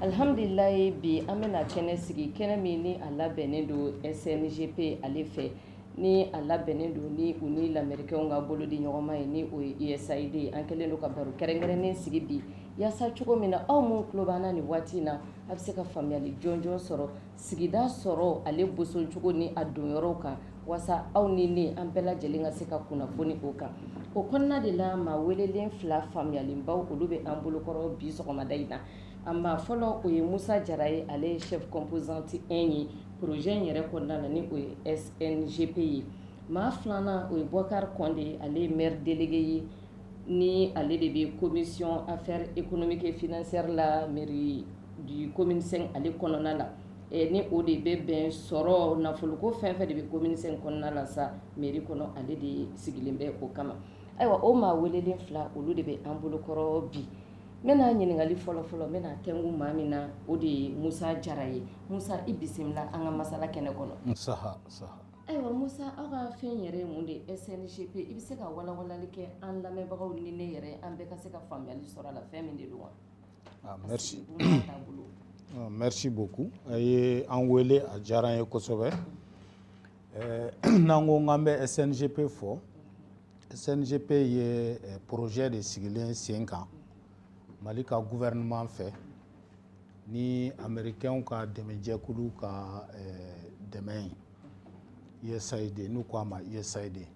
Alihamdulilayi bi an bɛna na kɛnɛ sigi kɛnɛ min ni a labɛnnen don SNGP ale fɛ ni a labɛnnen don ni u ni lamɛrikɛnw ka bolo di ɲɔgɔnma ye ni o ye USAID ye an kɛlen don ka baro kɛrɛnkɛrɛnnen sigi bi yaasa cogo min na aw minnu tulo b'an na nin waati in na a bɛ se ka faamuyali jɔnjɔn sɔrɔ sigida sɔrɔ ale boson cogo ni a donyɔrɔw kan walasa aw ni ne an bɛɛ lajɛlen ka se ka kunnafoni o kan o kɔnɔna de la maa welelen fila faamuyalenbaw olu bɛ an bolokɔrɔ bi sɔgɔmada in na a maa fɔlɔ o ye musa jara ye ale ye chef composante 1 ye projet in yɛrɛ kɔnɔna na ni o ye SNGP ye maa filanan o ye Bɔkari Kɔnde ale ye maire délégué ye ni ale de bɛ commission affaires économiques et financières la mairie du commune 5 ale kɔnɔna la eh, ni o de bɛ bɛn sɔrɔ nafoloko fɛn fɛn de bɛ commune 5 kɔnɔna la sa mairie kɔnɔ ale de sigilen bɛ o kama ayiwa o maa welelen fila olu de bɛ an bolokɔrɔ bi n bɛna ɲininkali fɔlɔfɔlɔ n bɛna tɛngu maa min na o de ye musa jara ye musa i bisimila an ka masala kɛnɛ kɔnɔ ayiwa musa aw ka fɛn yɛrɛ ye mun de ye sngp i bɛ se ka walawalali kɛ an lamɛnbagaw ni ne yɛrɛ an bɛɛ ka se ka faamuyali sɔrɔ a la fɛn min de don wa ah, merci ah, merci beaucoup a ye an wele a diyara an ye kosɛbɛ eh, n'an ko k'an bɛ sngp fɔ sngp ye eh, projet de sigilen sen kan mali ka gouvernement fɛ ni amerikɛnw ka dɛmɛjɛkulu ka eh, dɛmɛ ye usaid n'u ko a ma usaid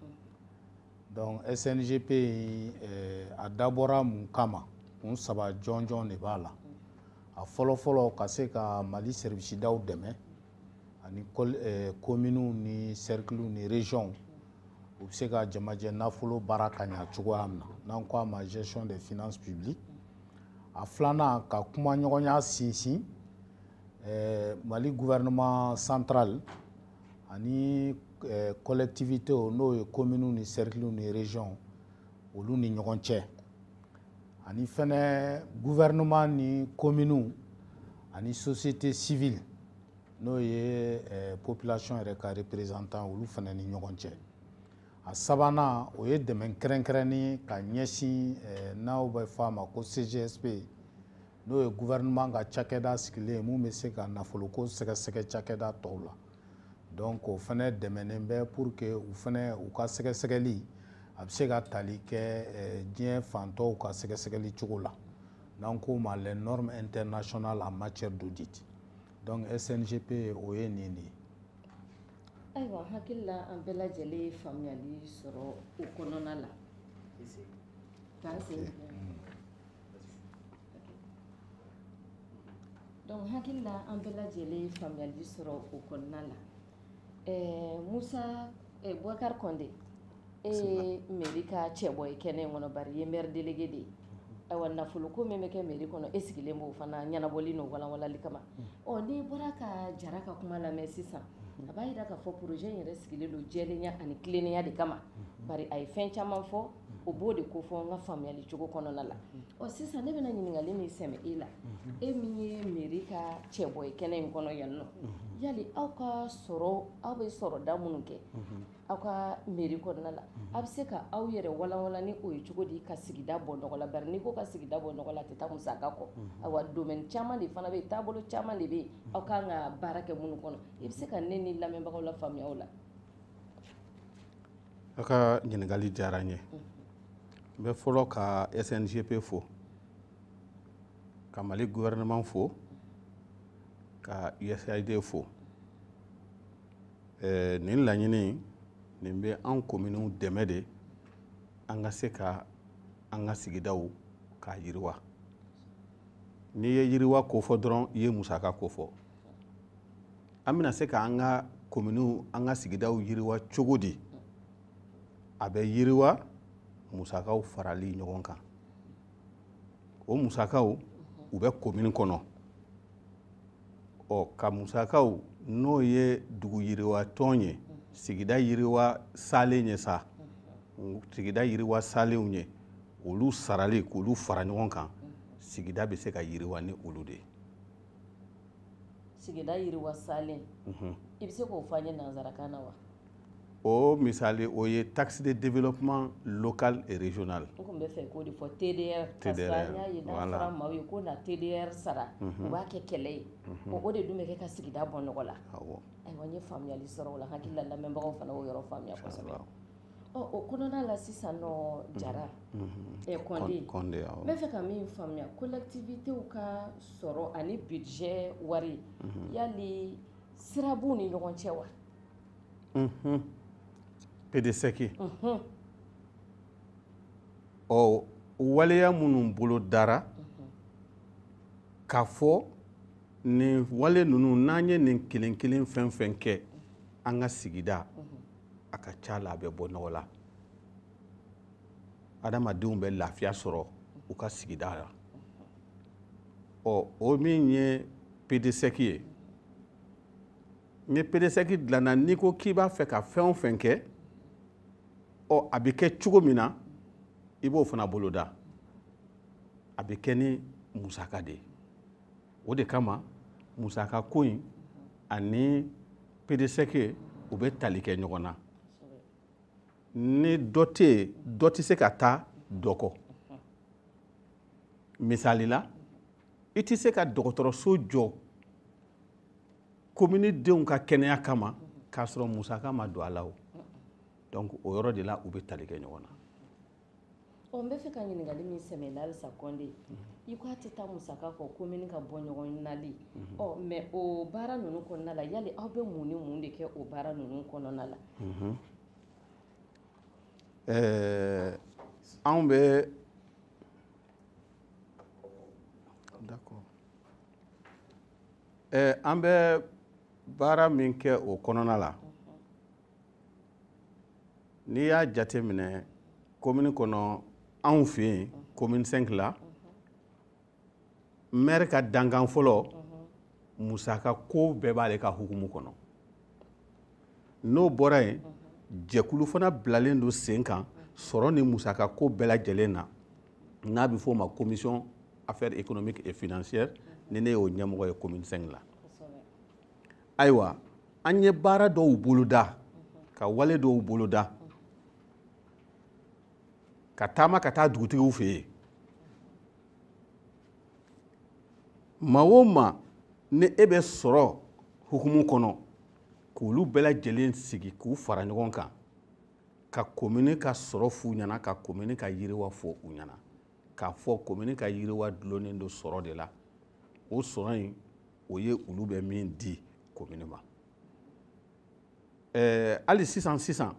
donc sngp in eh, a dabɔra mun kama kun saba jɔnjɔn de b'a la a fɔlɔfɔlɔ ka se ka mali serivisidaw dɛmɛ ani kominiw ni sɛrikiliw ni rejɔnw u bɛ se ka jamajɛ nafolo baara ka ɲa cogoya min na n'an ko a ma gestion des finances publiques a filanan ka kumaɲɔgɔnya sinsin mali gouvernement central ani collectivités n'o ye kominiw ni sɛrikiliw ni rejɔnw olu ni ɲɔgɔn cɛ ani fɛnɛ gouvernement ni kominiw ani société civile n'o ye eh, population yɛrɛ ka représentants olu fɛnɛ ni ɲɔgɔn cɛ a sabanan o ye dɛmɛ kɛrɛnkɛrɛnnen ka ɲɛsin eh, n'aw bɛ fɔ a ma ko cgsp n'o ye gouvernement ka cakɛda sigilen ye min bɛ se ka nafoloko sɛgɛsɛgɛ cakɛda tɔw la donc o fɛnɛ dɛmɛnen bɛ pour que u fɛnɛ u ka sɛgɛsɛgɛli a bɛ se ka tali kɛ eh, diɲɛ fan tɔw ka sɛgɛsɛgɛli cogo la n'an k'o ma les normes internationales en matière d'audit donc SNGP o ye nin de ye. ayiwa n hakili la an bɛɛ lajɛlen ye faamuyali sɔrɔ o kɔnɔna la. k'an sen. donc n hakili la an bɛɛ lajɛlen ye faamuyali sɔrɔ o kɔnɔna la eh, musa eh, bubakari kɔnde e ye meri ka cɛbɔ ye kɛnɛ in kɔnɔ bari e ye mɛri delege de ye ayiwa nafoloko min bɛ kɛ meri kɔnɔ e sigilen b'o fana ɲɛnabɔli n'o walanwalali kama ɔ n'i bɔra ka jara ka kuma lamɛn sisan a b'a yira k'a fɔ projet in yɛrɛ sigilen don jɛlenya ani tilennenya de kama bari a ye fɛn caman fɔ o b'o de kofɔ n ka faamuyali cogo kɔnɔna la ɔ sisan ne bɛna ɲininkali min sɛmɛ e la e min ye meri ka cɛbɔ ye kɛnɛ in kɔnɔ yan nɔ yali aw ka sɔrɔ aw bɛ sɔrɔda minnu kɛ aw ka meri kɔnɔna la a bɛ se ka aw yɛrɛ walanwalan ni o ye cogo di ka sigida bɔ nɔgɔ la bari n'i ko ka sigida bɔ nɔgɔ la a tɛ taa musaka kɔ awa domaine caman de fana bɛ yen taabolo caman de bɛ yen aw kan ka baara kɛ minnu kɔnɔ i bɛ se ka ne ni lamɛnbagaw lafaamuya o la aw ka ɲininkali diyara n ye n bɛ fɔlɔ ka sngp fo ka mali gouvernement fo ka usaid fo eh, nin laɲini nin bɛ an kominiw dɛmɛ de an ka se ka an ka sigidaw k'a yiriwa n'i ye yiriwa kofɔ dɔrɔn i ye musaka kofɔ an bɛna se ka an ka kominiw an ka sigidaw yiriwa cogo di a bɛ yiriwa musakaw farali ɲɔgɔn kan o musakaw u bɛ komini kɔnɔ ɔ ka musakaw n'o ye dugu yiriwa tɔn ye sigida yiriwa salen ye sa sigida yiriwa salenw ye olu sarali k'olu fara ɲɔgɔn kan sigida bɛ se ka yiriwa ni olu de ye sigida yiriwa salen mhm. i bɛ se k'o fɔ an ye nansarakan na wa o misali o ye taxe de développement local et régional n tun bɛ fɛ k'o de fɔ TDR parce que an y'a ye n'a fɔra maaw ye ko na TDR sara mhm. u b'a kɛ kɛlɛ ye mhm. o de dun bɛ kɛ ka sigida bɔ nɔgɔ la ayiwa n ye faamuyali sɔrɔ o la n hakili la lamɛnbagaw fana y'o yɔrɔ faamuya kosɛbɛ O kɔnɔna la sisan jara kɔn kɔnde bɛ fɛ ka min faamuya collectivitéw ka sɔrɔ ani bijɛ wari yali sira b'u ni ɲɔgɔn cɛ wa PDSEC ɔ waleya minnu bolodara k'a fɔ nin wale ninnu n'an ye nin kelen kelen fɛn fɛn kɛ an ka sigida a ka ca la a bɛ bɔ nɔgɔ la adamadenw bɛ lafiya sɔrɔ u ka sigida la ɔ o min ye pedesɛki ye ni pedesɛki dilanna n'i ko k'i b'a fɛ ka fɛn o fɛn kɛ ɔ a bɛ kɛ cogo min na i b'o fana boloda a bɛ kɛ ni musaka de ye o de kama musaka ko in ani pedesɛki u bɛ tali kɛ ɲɔgɔn na ni dɔ tɛ yen dɔ tɛ se ka taa dɔ kɔ misali la i tɛ se ka dɔgɔtɔrɔso jɔ komini denw ka kɛnɛya kama k'a sɔrɔ musaka ma don a la o donc o yɔrɔ de la u bɛ tali kɛ ɲɔgɔn na ɔ n bɛ fɛ ka ɲininkali min sɛmɛ la halisa kɔnde mhm. i ko a tɛ taa musaka kɔ komini ka bɔnɔgɔlali mhm. ɔ mais o baara ninnu kɔnɔna la yali aw bɛ mun ni mun de kɛ o baara ninnu kɔnɔna la mhm. eh, anw bɛ d'accord eh, an bɛ baara min kɛ o kɔnɔna la n'i y'a jate minɛ komini kɔnɔ anw fɛ yen komini cinq la mɛri ka dankan fɔlɔ musaka ko bɛɛ b'ale ka hukumu kɔnɔ n'o bɔra yen jɛkulu fana bilalen don sen kan sɔrɔ ni musaka ko bɛɛ lajɛlen na n'a bɛ f'o ma commission affaires économiques et financières ni ne y'o ɲɛmɔgɔ ye komini cinq la ayiwa an ye baara dɔw boloda ka wale dɔw boloda ka taama ka taa dugutigiw fɛ yen maa o maa n'i bɛ sɔrɔ hukumu kɔnɔ k'olu bɛɛ lajɛlen sigi k'u fara ɲɔgɔn kan ka komini ka sɔrɔ f'u ɲɛna ka komini ka yiriwa fɔ u ɲɛna k'a fɔ komini ka yiriwa dulonnen don sɔrɔ de la o sɔrɔ in o ye olu bɛ min di komini ma ɛɛ hali sisan sisan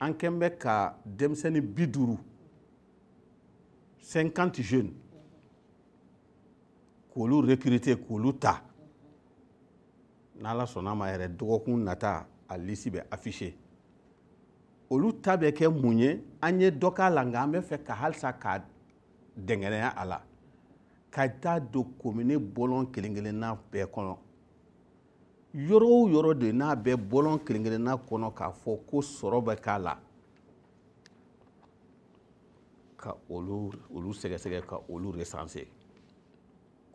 an kɛn bɛ ka denmisɛnnin bi duuru cinquante jeunes k'olu recruter k'olu ta n'ala sɔnna a ma yɛrɛ dɔgɔkun nata a lisi bɛ afficher olu ta bɛ kɛ mun ye an ye dɔ k'a la nka an bɛ fɛ ka halisa ka dɛngɛnɛya a la ka taa don komine bɔlɔn kelen kelenna bɛɛ kɔnɔ yɔrɔ o yɔrɔ de n'a bɛ bɔlɔn kelen kelenna kɔnɔ k'a fɔ ko sɔrɔ bɛ k'a la ka olu olu sɛgɛsɛgɛ ka olu resanse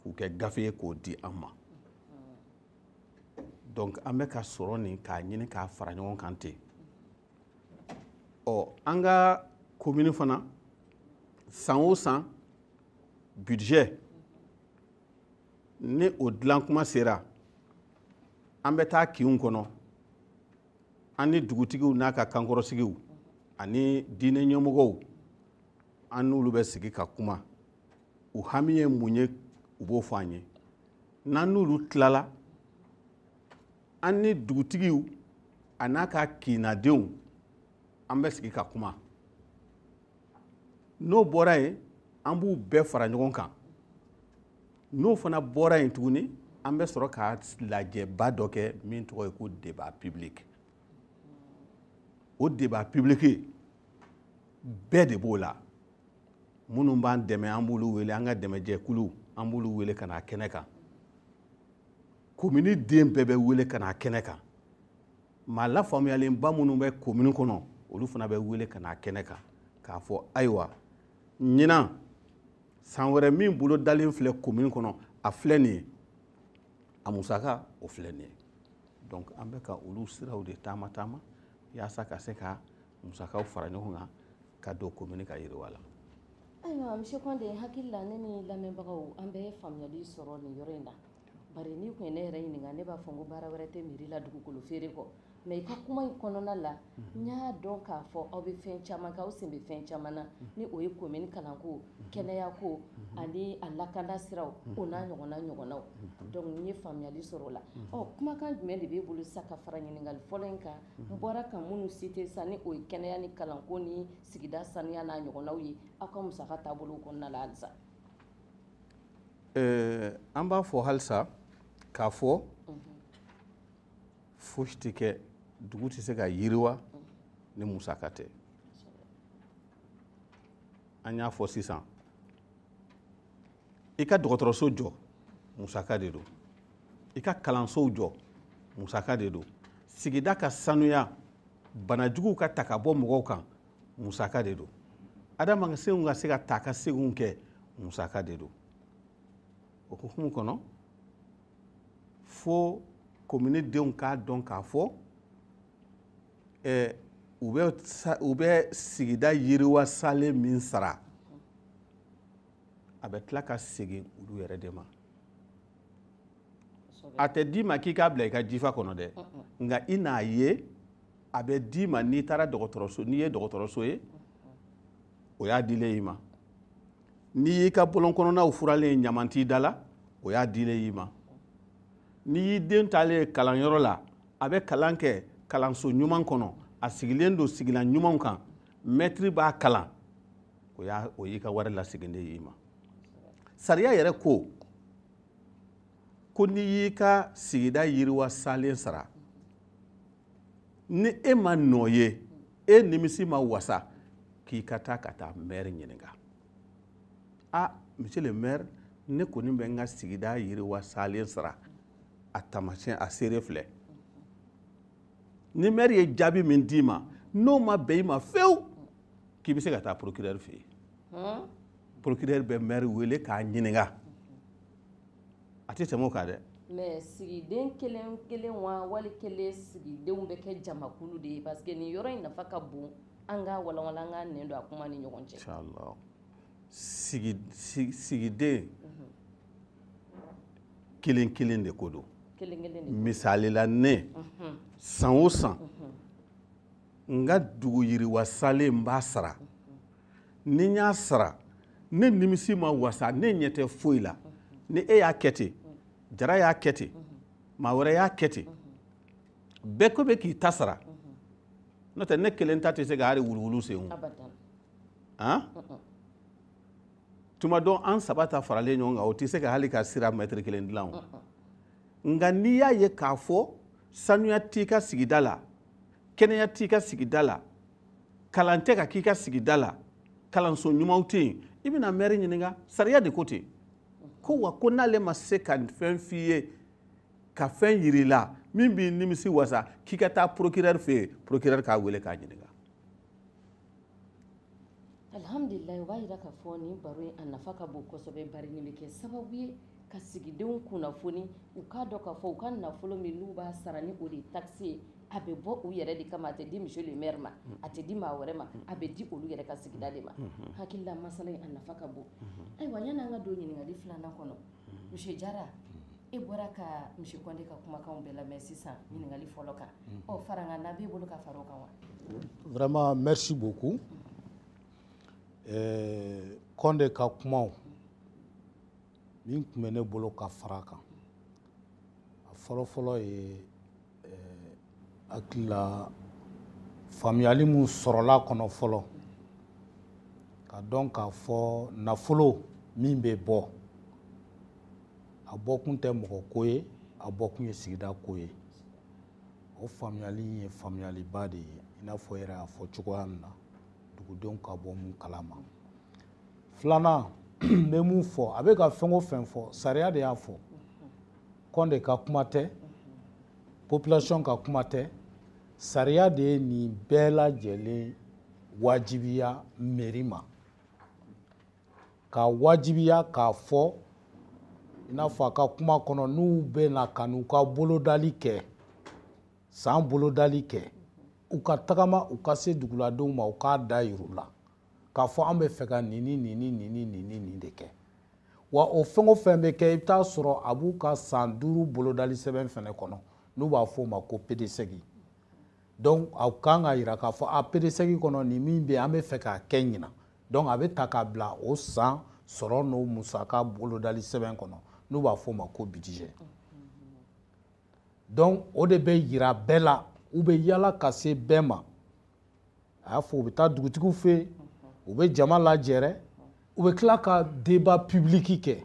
k'u kɛ gafe ye k'o di an ma donc an bɛ ka sɔrɔ nin k'a ɲini k'a fara ɲɔgɔn kan ten ɔ an ka komini fana san o san budget ni o dilan kuma sera an bɛ taa kinw kɔnɔ an ni dugutigiw n'a ka kankɔrɔsigiw ani diinɛ ɲɛmɔgɔw an n'olu bɛ sigi ka kuma u hami ye mun ye u b'o fɔ an ye n'an n'olu tilala an ni dugutigiw a n'a ka kinnadenw an bɛ sigi ka kuma n'o bɔra yen an b'u bɛɛ fara ɲɔgɔn kan n'o fana bɔra yen tuguni an bɛ sɔrɔ ka lajɛba dɔ kɛ min tɔgɔ ye ko débat public o débat public bɛɛ de b'o la minnu b'an dɛmɛ an b'olu wele an ka dɛmɛjɛkulu an b'olu wele ka na kɛnɛ kan komini den bɛɛ bɛ wele ka na kɛnɛ kan maa lafaamuyalenba minnu bɛ komini kɔnɔ olu fana bɛ wele ka na kɛnɛ kan k'a fɔ ayiwa ɲinan san wɛrɛ min bolodalen filɛ komini kɔnɔ a filɛ nin ye a musaka o filɛ nin ye donc an bɛ ka olu siraw de taama taama yaasa ka se ka musakaw fara ɲɔgɔn kan ka don komini ka yiriwa la ayiwa monsieur Kɔnde n hakili la ne ni lamɛnbagaw an bɛɛ ye faamuyali sɔrɔ nin yɔrɔ in na bari n'i tun ye ne yɛrɛ ɲininka ne b'a fɔ n ko baara wɛrɛ tɛ mairie la dugukolo feere kɔ mais i ka kuma in kɔnɔna la mhm. n y'a dɔn k'a fɔ aw bɛ fɛn caman kɛ aw sen bɛ fɛn caman na mhm. ni o ye komini kalanko mhm. kɛnɛyako ani a lakanda siraw o n'a ɲɔgɔnna ɲɔgɔnnaw donc n ye faamuyali sɔrɔ o la ɔ kumakan jumɛn de b'e bolo sisan ka fara ɲininkali fɔlɔ in kan n bɔra ka minnu site sa ni o ye kɛnɛya ni kalanko ni sigida saniya n'a ɲɔgɔnnaw ye aw ka musaka taabolo kɔnɔna la halisa eh, an b'a fɔ halisa k'a fɔ mhm. fosi tɛ kɛ dugu tɛ se ka yiriwa mhm. ni musaka tɛ an y'a fɔ sisan i ka dɔgɔtɔrɔso jɔ musaka de don i ka kalansow jɔ musaka de don sigida ka sanuya banajuguw ka ta ka bɔ mɔgɔw kan musaka de don adamadenw ka se ka taakaseginw kɛ musaka de don o hukumu kɔnɔ fo komini denw k'a dɔn k'a fɔ u bɛ sigida yiriwa salen min sara a bɛ tila ka segin olu yɛrɛ de ma a tɛ d'i ma k'i k'a bila i ka jifa kɔnɔ dɛ nka i n'a ye a bɛ d'i ma n'i taara dɔgɔtɔrɔso n'i ye dɔgɔtɔrɔso ye o y'a dilen i ma n'i y'i ka bɔlɔn kɔnɔnaw furalen ye ɲaman t'i da la o y'a dilen i ma n'i y'i den taalen ye kalanyɔrɔ la a bɛ kalan kɛ kalanso ɲuman kɔnɔ a sigilen don sigilan ɲumanw kan mɛtiri b'a kalan o y'a o y'i ka wari lasegin de y'i ma sariya yɛrɛ ko ko n'i y'i ka sigida yiriwa salen sara ni e m'a nɔ ye e nimisi ma wasa k'i ka taa ka taa mɛri ɲininka a monsieur le maire ne kɔni bɛ n ka sigida yiriwa salen sara a tamasiyɛn a seere filɛ ni mɛri ye jaabi min d'i ma n'o ma bɛn i ma fewu k'i bɛ se ka taa procureur fɛ yen hmm? procureur bɛ maire wele k'a ɲininka a tɛ tɛmɛ o kan dɛ mais sigiden kelen kelen wa wali kelen sigidenw bɛ kɛ jamakulu de ye parce que nin yɔrɔ in nafa ka bon an k'a walawala an ka nɛn don a kuma ni ɲɔgɔn cɛ inshallah sigi sigiden mhm. kelen kelen de ko don misali la ne mhm. san o san mhm. n ka dugu yiriwa salen n b'a sara ni n y'a sara ne nimisi ma wasa ne ɲɛ tɛ foyi la ni e y'a kɛ ten jara y'a kɛ ten maa wɛrɛ y'a kɛ ten bɛɛ ko bɛɛ k'i ta sara n'o tɛ ne kelen ta tɛ se ka hali wuluwulu sen o han tuma dɔ an saba ta faralen ɲɔgɔn kan o tɛ se ka hali ka sira mɛtiri kelen dilan o nka n'i y'a ye k'a fɔ sanuya t'i ka sigida la kɛnɛya t'i ka sigida la kalan tɛ ka k'i ka sigida la kalanso ɲumanw tɛ yen i bɛna mɛri ɲininka sariya de ko ten ko wa ko n'ale ma se ka fɛn f'i ye ka fɛn yir'i la min b'i nimisi wasa k'i ka taa procureur fɛ yen procureur k'a wele k'a ɲininka alhamdulilayi o b'a jira k'a fɔ nin baro in a nafa ka bon kosɛbɛ bari nin bɛ kɛ sababu ye ka sigidenw kunnafoni u k'a dɔn k'a fɔ u ka nafolo min n'u b'a sara ni o de ye takisi ye a bɛ bɔ u yɛrɛ de kama a tɛ di monsieur le maire ma mm. a tɛ di maa wɛrɛ ma mm. a bɛ di olu yɛrɛ ka sigida de ma mm-hmm. hakilila masala in a nafa ka bon mm-hmm. ayiwa yan'an ka don ɲininkali filanan kɔnɔ monsieur jara e bɔra ka monsieur kɔnde ka kumakan bɛɛ lamɛn sisan ɲininkali fɔlɔ kan ɔ farankan b'e bolo ka fara o kan wa vraiment merci beaucoup eh, kɔnde ka kumaw min tun bɛ ne bolo ka fara kan a fɔlɔfɔlɔ ye eh, hakilila faamuyali min sɔrɔla kɔnɔ fɔlɔ k'a dɔn k'a fɔ nafolo min bɛ bɔ a bɔkun tɛ mɔgɔ ko ye a bɔkun ye sigida ko ye o faamuyali in ye faamuyaliba de ye i n'a fɔ yɛrɛ y'a fɔ cogoya min na dugudenw ka bɔ min kalama filanan n bɛ min fɔ a bɛ ka fɛn o fɛn fɔ sariya de y'a fɔ kɔnde ka kuma tɛ population ka kuma tɛ sariya de ye nin bɛɛ lajɛlen wajibiya mɛri ma k'a wajibiya k'a fɔ i n'a fɔ a ka kuma kɔnɔ n'u bɛ na ka n'u ka bolodali kɛ san bolodali kɛ u ka tagama u ka se duguladenw ma u k'a dajira u la k'a fɔ an bɛ fɛ ka nin ni nin ni nin ni nin ni nin de kɛ wa o fɛn o fɛn bɛ kɛ i bɛ taa sɔrɔ a b'u ka san duuru bolodali sɛbɛn fana kɔnɔ n'u b'a fɔ o ma ko pedesɛgi donc a kan ka jira k'a fɔ a pedesɛgi kɔnɔ nin min bɛ yen an bɛ fɛ k'a kɛ ɲinan donc a bɛ ta k'a bila o san sɔrɔ n'o musaka bolodali sɛbɛn kɔnɔ n'u b'a fɔ o ma ko bidijɛ donc o de bɛ jira bɛɛ la u bɛ yala ka se bɛɛ ma a y'a fɔ u bɛ taa dugutigiw fɛ yen u bɛ jama lajɛrɛ u bɛ tila ka deba pibiliki kɛ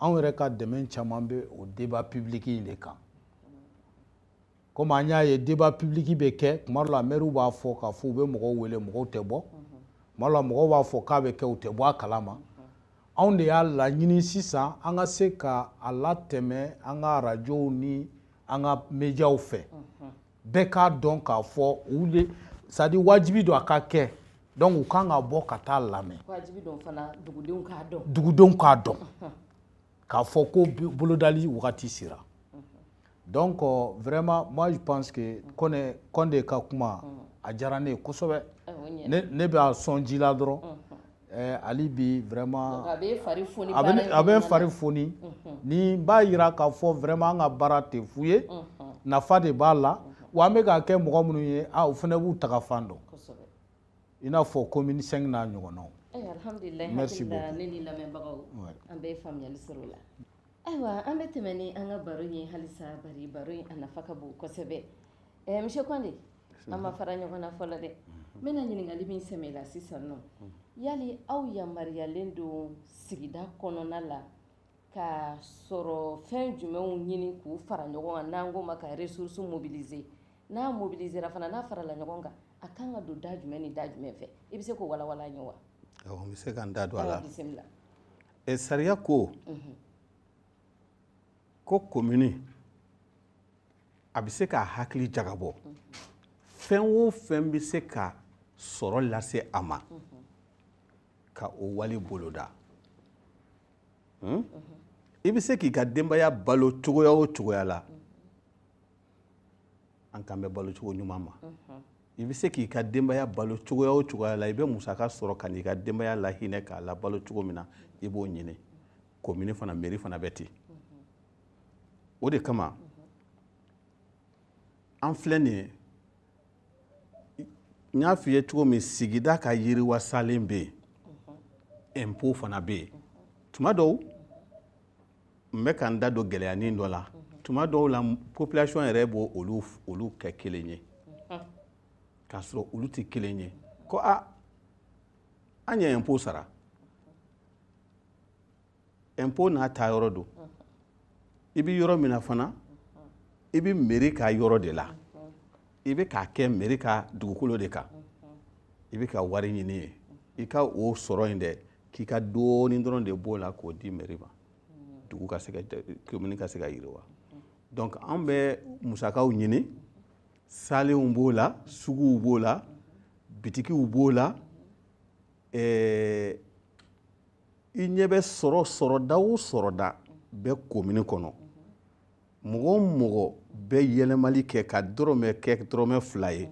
anw yɛrɛ ka dɛmɛ caman bɛ o deba pibiliki in de kan komi an y'a ye deba pibiliki bɛ kɛ tuma dɔ la mɛriw b'a fɔ k'a fɔ u bɛ mɔgɔw wele mɔgɔw tɛ bɔ tuma dɔ la mɔgɔw b'a fɔ k'a bɛ kɛ u tɛ bɔ a kalama anw de y'a laɲini sisan an ka se ka a latɛmɛ an ka arajow ni an ka mediaw fɛ bɛɛ k'a dɔn k'a fɔ u le c'est-à-dire wajibi don a ka kɛ donc u kan ka bɔ ka taa a lamɛn dugudenw k'a dɔn dugudenw k'a dɔn k'a fɔ ko bolodali wagati sera donc vraiment moi je pense que kɔnɛ kɔnde ka kuma a diyara ne ye kosɛbɛ ne bɛ a sɔn ji la dɔrɔn Eh, ali bi vraiment a bɛ n fari foni a bɛ a bɛ fari foni ni b'a yira k'a fɔ vraiment an ka baara tɛ fu ye nafa de b'a la wa an bɛ k'a kɛ mɔgɔ minnu ye a u fana b'u tagafan dɔn i n'a fɔ commune 5 n'a ɲɔgɔnnaw eh, merci beaucoup ne ni lamɛnbagaw an bɛ faamuyali sɔrɔ o la Ayiwa an bɛ tɛmɛ ni an ka baro ye halisa bari baro in a nafa ka bon kosɛbɛ ɛɛ monsieur Kɔnde an ma fara ɲɔgɔn na fɔlɔ dɛ n bɛna ɲininkali min sɛmɛ i la sisan nɔ yali aw yamaruyalen don sigida kɔnɔna la ka sɔrɔ fɛn jumɛnw ɲini k'u fara ɲɔgɔn kan n'an k'o ma ka ressources mobiliser n'a mobilisera fana n'a farala ɲɔgɔn kan a kan ka don da jumɛn ni da jumɛn fɛ i bɛ se k'o walawala an ye wa awɔ n bɛ se ka n da don a la bisimila ɛ sariya ko ko komini a bɛ se k'a hakili jagabɔ fɛn o fɛn bɛ se ka sɔrɔ lase a ma ka o wale boloda hmm? i bɛ se k'i ka denbaya balo cogoya o cogoya la an kan bɛ balo cogo ɲuman ma i bɛ se k'i ka denbaya balo cogoya o cogoya la i bɛ musaka sɔrɔ ka n'i ka denbaya lahinɛ k'a labalo cogo min na i b'o ɲini komini fana meri fana bɛ ten o de kama an filɛ nin ye n y'a f'i ye cogo min sigida ka yiriwa salen bɛ yen ɛnpo fana bɛ yen tuma dɔw n bɛ ka n da don gɛlɛyanin dɔ la tuma dɔw la population yɛrɛ b'o olu olu kɛ kelen ye k'a sɔrɔ olu tɛ kelen ye ko a an ye impôt sara impôt n'a taa yɔrɔ don i bɛ yɔrɔ min na fana i bɛ meri ka yɔrɔ de la i bɛ k'a kɛ meri ka dugukolo de kan i bɛ ka wari ɲini yen i ka o sɔrɔ in dɛ k'i ka dɔɔni dɔrɔn de b'o la k'o di mɛri ma dugu ka se ka komini ka se ka yiriwa donc an bɛ musakaw ɲini salenw b'o la suguw b'o la bitikiw b'o la eh, i ɲɛ bɛ sɔrɔ sɔrɔda o sɔrɔda bɛ komini kɔnɔ mɔgɔ o mɔgɔ bɛ yɛlɛmali kɛ ka dɔrɔmɛ kɛ dɔrɔmɛ fila ye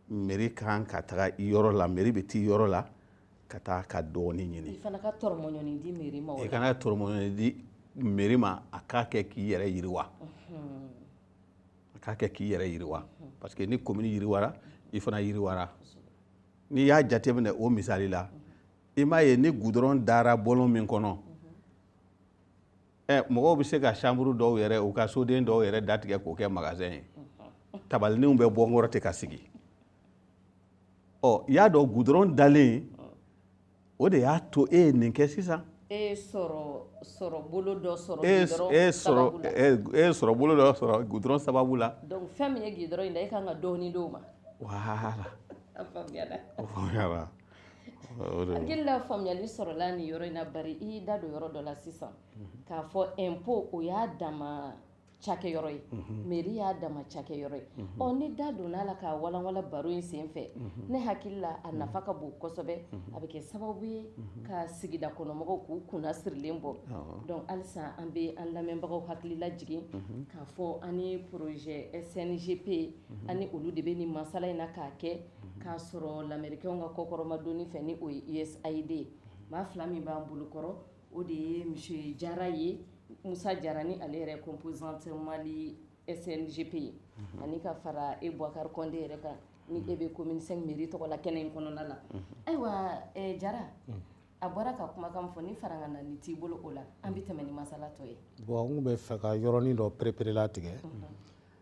meri kan ka taga i yɔrɔ la meri bɛ t'i yɔrɔ la ka taa ka dɔɔni ɲini i ka na ka tɔrɔmɔɲɔni di meri ma i ka na ka tɔrɔmɔɲɔni di meri ma a k'a kɛ k'i yɛrɛ yiriwa a k'a kɛ k'i yɛrɛ yiriwa parce que ni komini yiriwara i fana yiriwara n'i y'a jateminɛ o misali la i m'a ye ni gudɔrɔn dara bɔlɔn min kɔnɔ ɛ mɔgɔw bɛ se ka chambre dɔw yɛrɛ u ka soden dɔw yɛrɛ datigɛ k'o kɛ magasin ye tabalininw bɛ bɔ n kɔrɔ ten ka sigi ɔ y'a dɔn gudɔrɔn dalen o de y'a to e ye nin kɛ sisan e ye sɔrɔbolo dɔ sɔrɔ e gudɔrɔn e sababu la e sɔrɔbolo dɔ sɔrɔ gudɔrɔn sababu la donc fɛn min ye gudɔrɔn in da e ka kan ka dɔɔnin d'o ma voilà a faamuyara a faamuyara hakili la faamuyali sɔrɔla nin yɔrɔ in na bari i y'i da don yɔrɔ dɔ la sisan mhm. k'a fɔ impôt o y'a dama cakɛyɔrɔ ye mhm. meri y'a dama cakɛyɔrɔ ye mhm. ɔ ni da donna a la k'a walawala baro in sen fɛ ne hakili la a nafa ka bon kosɛbɛ a bɛ kɛ sababu ye ka sigida kɔnɔmɔgɔw k'u kunna sirilen bɔ donc halisa an bɛ an lamɛnbagaw hakili lajigin k'a fɔ an ni projet sngp an ni olu de bɛ nin masala in na k'a kɛ k'a sɔrɔ lamɛrikɛnw ka kɔkɔrɔmadonni fɛ ni o ye usaid ye maa fila min b'an bolokɔrɔ o de ye monsieur jara ye musa jara ni ale yɛrɛ composante mali sngp ye ani ka fara e bɔkari kɔnde yɛrɛ kan ni e bɛ commune cinq mairie tɔgɔ la kɛnɛ in kɔnɔna la ayiwa jara a bɔra ka kumakan fɔ ni fara na ni t'i bolo o la an bɛ tɛmɛ ni masala tɔ ye bɔn n bɛ fɛ ka yɔrɔnin dɔ pereperelatigɛ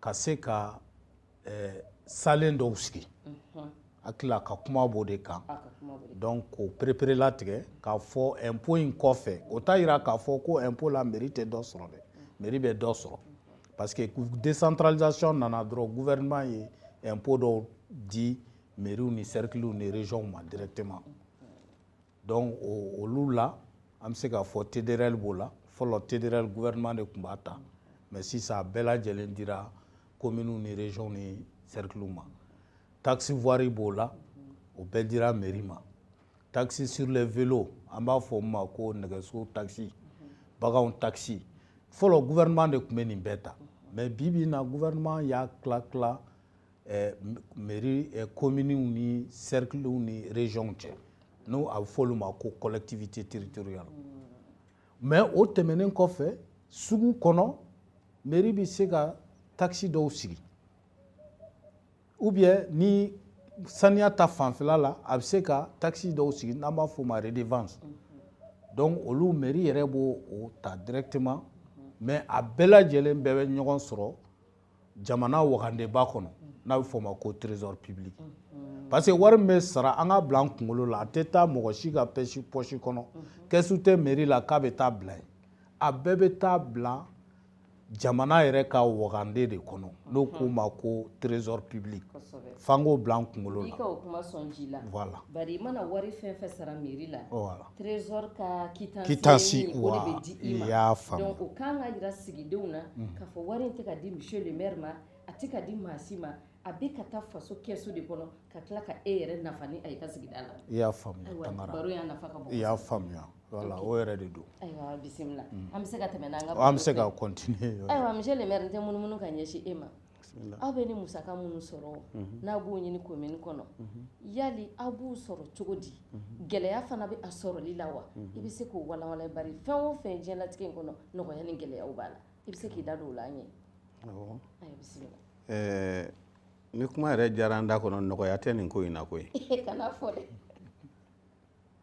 ka se ka eh, salen dɔw sigi hakili la a ka kuma b'o de kan donc k'o pereperelatigɛ k'a fɔ impôt in kɔfɛ o t'a yira k'a fɔ ko impôt la mairie tɛ dɔ sɔrɔ dɛ mairie bɛ dɔ sɔrɔ parce que décentralisation nana dɔrɔn gouvernement ye impôt dɔw di mairiew ni cerclew ni régionw ma directement donc olu la an bɛ se k'a fɔ tdrl b'o la fɔlɔ tdrl gouvernement de tun b'a ta mais sisan a bɛɛ lajɛlen dira kominiw ni région ni cerclew ma taxe voirie b'o la o bɛɛ dira mairie ma taxe sur les vélos an b'a fɔ min ma ko nɛgɛso taxe baganw taxe fɔlɔ gouvernement de tun bɛ nin bɛɛ ta mais bi bi in na gouvernement y'a tila tila eh, mairie eh, kominiw ni cerclew ni régionw cɛ n'a bɛ fɔ olu ma ko collectivité territoriale mais o tɛmɛnen kɔfɛ sugu kɔnɔ mairie bɛ se ka taxe dɔw sigi ou bien ni saniya ta fanfɛla la a bɛ se ka taxe dɔw sigi n'an b'a fɔ o ma redevance donc olu mairie yɛrɛ b'o ta directement mais a bɛɛ lajɛlen bɛɛ bɛ ɲɔgɔn sɔrɔ jamana wagandeba kɔnɔ n'a bɛ fɔ o ma ko trésor public parce que wari min bɛ sara an ka bila an kunkolo la a tɛ taa mɔgɔ si ka pɛsi pɔsi kɔnɔ kɛsu tɛ meri la k'a bɛ taa bila yen a bɛɛ bɛ taa bila jamana yɛrɛ ka wagande de kɔnɔ n'o k'o ma ko trésor public f'an k'o bila an kunkolo la. I ka o kuma sɔn ji la. Voilà. Bari i mana wari fɛn fɛn sara mairie la. Voilà. trésor ka quittance quittance ye min ye, o de wa, bɛ di i ma i y'a faamu. donc o kan ka jira sigidenw na Mhm. k'a fɔ wari in tɛ ka di monsieur le maire ma a tɛ ka di maa si ma a bɛ ka taa faso kɛsu de kɔnɔ ka tila ka e yɛrɛ nafa ni a ye ka sigida la i y'a faamuya ayiwa tangara baro in nafa ka bon i y'a kosɛbɛ. faamuya wala Ok. o yɛrɛ de don ayiwa bisimila Mhm. an bɛ se ka tɛmɛ n'an ka an bɛ se baro ka fɛ. continuer ayiwa monsieur le maire n tɛ munumunu ka ɲɛsin e ma aw bɛ nin musaka minnu sɔrɔ mhm. n'a b'o ɲini komini kɔnɔ mhm. yali aw b'u sɔrɔ cogo di mhm. gɛlɛya fana bɛ a sɔrɔli la wa i bɛ se k'o walawala bari fɛn o fɛn diɲɛlatigɛ in kɔnɔ nɔgɔya ni gɛlɛyaw b'a la i bɛ se k'i da don o la an ye bisimila nin kuma yɛrɛ diyara an da kɔnɔ nɔgɔya tɛ nin ko in na koyi kana fɔ dɛ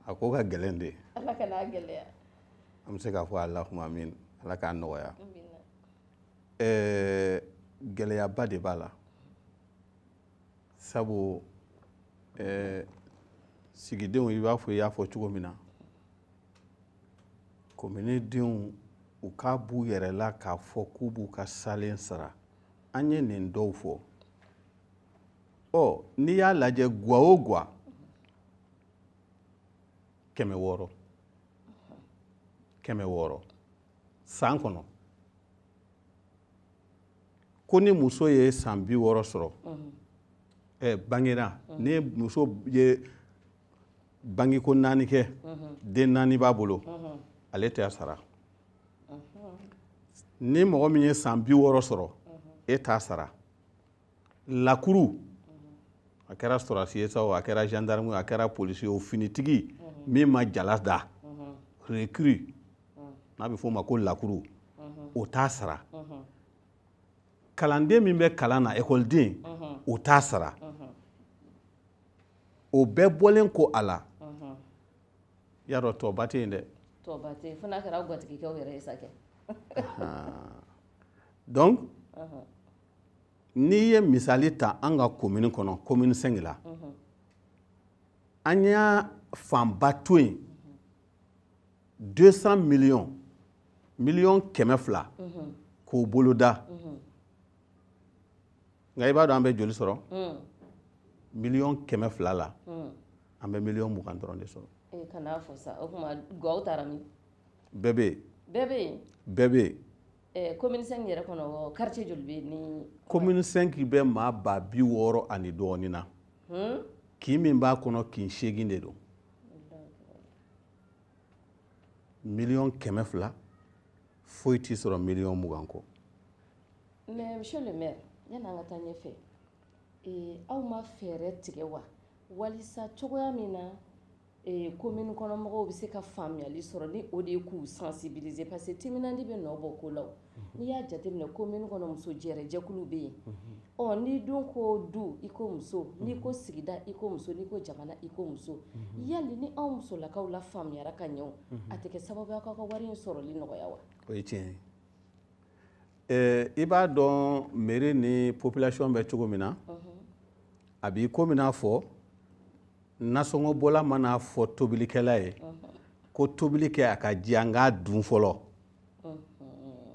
a ko ka gɛlɛn dɛ ala kan'a gɛlɛya an bɛ se k'a fɔ ala kuma min ala k'a nɔgɔya ɛɛ gɛlɛyaba de b'a la sabu ɛɛ sigidenw i b'a fɔ i y'a fɔ cogo min na kominidenw u k'a b'u yɛrɛ la k'a fɔ k'u b'u ka salen sara an ye nin dɔw fɔ ɔ n'i y'a lajɛ gwa o gwa kɛmɛ wɔɔrɔ kɛmɛ wɔɔrɔ san kɔnɔ ko ni muso ye san bi wɔɔrɔ sɔrɔ ɛ bangera ni muso ye bangeko naani kɛ den naani b'a bolo ale tɛ a sara ni mɔgɔ min ye san bi wɔɔrɔ sɔrɔ e t'a sara lakuru a kɛra sɔrɔdasi ye sa o a kɛra gendarme a kɛra polisi ye o finitigi min ma jala da recrue n'a bɛ f'o ma ko lakuru o t'a sara kalanden min bɛ kalan na ekɔliden o t'a sara o bɛɛ bɔlen kɔ a la y'a dɔn tɔba tɛ yen dɛ tɔba tɛ yen fo n'a kɛra gatigikɛw yɛrɛ ye sa kɛ donc n'i ye misali ta an ka komini kɔnɔ komini 5 la an y'a fanba to yen 200 miliyɔn miliyɔn kɛmɛ fila k'o boloda nka i b'a dɔn an bɛ joli sɔrɔ miliyɔn kɛmɛ fila la an bɛ miliyɔn mugan dɔrɔn de sɔrɔ eh, bɛɛ bɛ yen bɛɛ bɛ yen Eh, commune 5 yɛrɛ kɔnɔ quartier joli bɛ yen. commune 5 bɛ maa ba bi wɔɔrɔ ani dɔɔnin na. Hmm? kin min b'a kɔnɔ kin seegin de don. miliyɔn kɛmɛ fila foyi tɛ sɔrɔ miliyɔn mugan kɔ. mais monsieur le maire yanni an ka taa ɲɛfɛ ee eh, aw ma fɛɛrɛ tigɛ wa walisa cogoya min na. Ee komini kɔnɔmɔgɔw bɛ se ka faamuyali sɔrɔ ni o de ye k'u sensibiliser parce que timinandi bɛ nɔ bɔ ko la n'i y'a jateminɛ komini kɔnɔ muso jɛ jɛkulu bɛ yen ɔ n'i dun ko du i ko muso n'i ko sigida i ko muso n'i ko jamana i ko muso yali ni anw musolakaw lafaamuyara ka ɲɛ a tɛ kɛ sababu ye ka wari in sɔrɔli nɔgɔya wa o ye tiɲɛ i b'a dɔn mairie ni population bɛ cogo min na a b'i ko min fɔ nasɔngɔbɔla man'a fɔ tobilikɛla ye ko tobili kɛ a ka diya n k'a dun fɔlɔ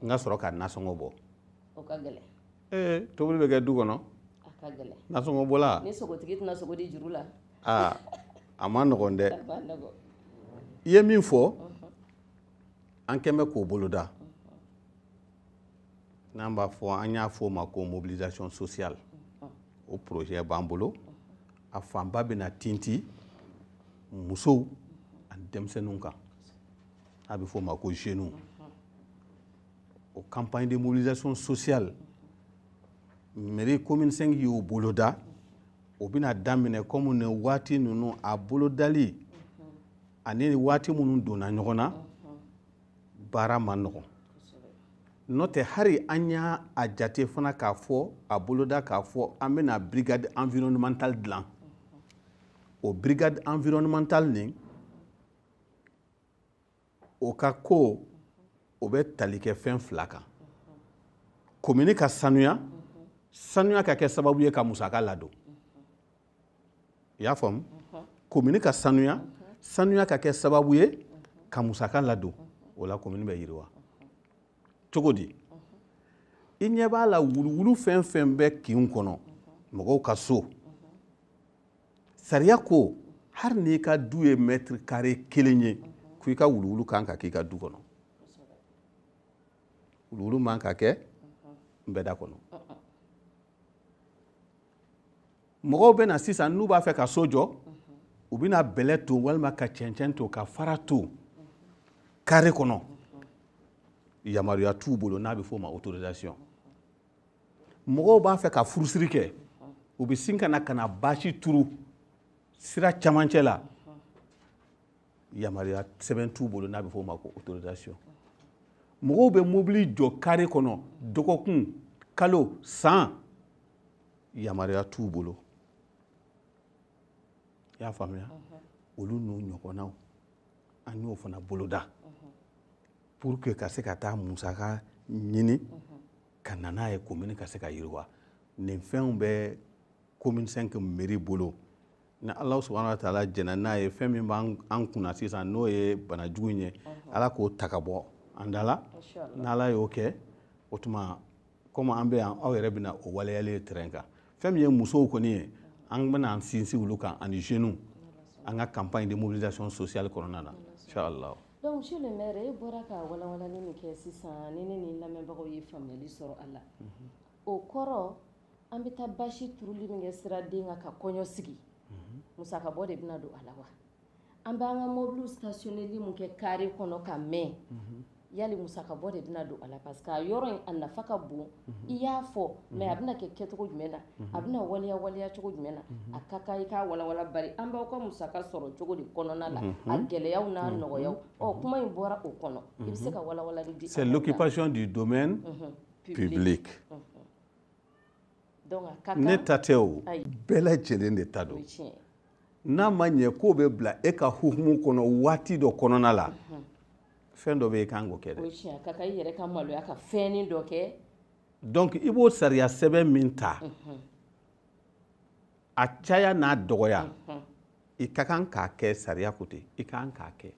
n ka sɔrɔ ka nasɔngɔ bɔ ee tobili bɛ kɛ du kɔnɔ nasɔngɔbɔla ni sogotigi tɛna sogo di juru la aa a ma nɔgɔn dɛ i ye min fɔ an kɛlen bɛ k'o boloda n'an b'a fɔ an y'a fɔ o ma ko mobilisation sociale o projet b'an bolo a fanba bɛna tintin musow ani denmisɛnninw kan n'a bɛ fɔ o ma ko jeunes o campagne de mobilisation sociale mairie commune 5 y'o boloda o bɛna daminɛ komi nin waati ninnu a bolodali ani waati minnu donna ɲɔgɔn na baara ma nɔgɔn n'o tɛ hari an y'a a jate fana k'a fɔ a boloda k'a fɔ an bɛna brigade environnemental dilan o brigade environnemental nin o ka ko o bɛ tali kɛ fɛn fila kan komini ka sanuya sanuya ka kɛ sababu ye ka musaka ladon i y'a faamu komini ka sanuya sanuya ka kɛ sababu ye ka musaka ladon o la komini bɛ yiriwa cogo di i ɲɛ b'a la wuluwulu fɛn fɛn bɛ kinw kɔnɔ mɔgɔw ka so sariya ko hali n'i ka du ye mɛtiri kare kelen ye ko i ka wuluwulu kan ka k'i ka du kɔnɔ wuluwulu man ka kɛ nbɛda kɔnɔ mɔgɔw bɛ na sisan n'u b'a fɛ ka so jɔ u bɛna bɛlɛ to walima ka cɛncɛn to ka fara to kare kɔnɔ yamaruya t'u bolo n'a bɛ f'o ma autorisation mɔgɔw b'a fɛ ka furusiri kɛ u bɛ sin ka na ka na basi turu sira camancɛ la yamaruya sɛbɛn t'u bolo n'a bɛ f'o ma ko autorisation mɔgɔw bɛ mobili jɔ kare kɔnɔ dɔgɔkun kalo san yamaruya t'u bolo i y'a faamuya olu n'u ɲɔgɔnnaw an y'o fana boloda pour que ka se ka taa musaka ɲini ka na n'a ye komini ka se ka yiriwa nin fɛnw bɛ komini sɛnki meri bolo ni ala subahana wa taala jɛnna n'a ye fɛn min b'an kunna sisan n'o ye bana jugu in ye ala k'o ta ka bɔ an da la n'ala y'o kɛ o tuma komi an bɛ yan aw yɛrɛ bɛna o waleyali ye terrain kan fɛn min ye musow kɔni ye an bɛna an sinsin olu kan ani jeunes an ka campagne de mobilisation sociale kɔnɔna na inchallah donc monsieur le maire e bɔra ka walawalali min kɛ sisan ni ne ni lamɛnbagaw ye faamuyali sɔrɔ a la mhm. o kɔrɔ an bɛ taa basi turuli min kɛ siraden kan ka kɔɲɔ sigi mhm. musakabɔ de bɛna don a la wa an b'an ka mɔbiliw stationeli min kɛ kare kɔnɔ ka mɛn yali musaka bɔ de bɛna don a la parce que a yɔrɔ in a nafa ka bon i y'a fɔ mais a bɛna kɛ kɛcogo jumɛn na a bɛna waleya waleya cogo jumɛn na a ka kan i k'a walawala bari an b'aw ka musaka sɔrɔ cogo de kɔnɔna la a gɛlɛyaw n'a nɔgɔyaw ɔ kuma in bɔra o kɔnɔ i bɛ se ka walawalali di c'est l'occupation du domaine public ne ta tɛ o bɛɛ lajɛlen de ta don n'a ma ɲɛ k'o bɛ bila e ka hukumu kɔnɔ waati dɔ kɔnɔna la mhm. fɛn dɔ bɛ e kan k'o kɛ dɛ donc i b'o sariya sɛbɛn min ta mhm. a caya n'a dɔgɔya mhm. i ka kan k'a kɛ sariya ko ten i ka kan k'a kɛ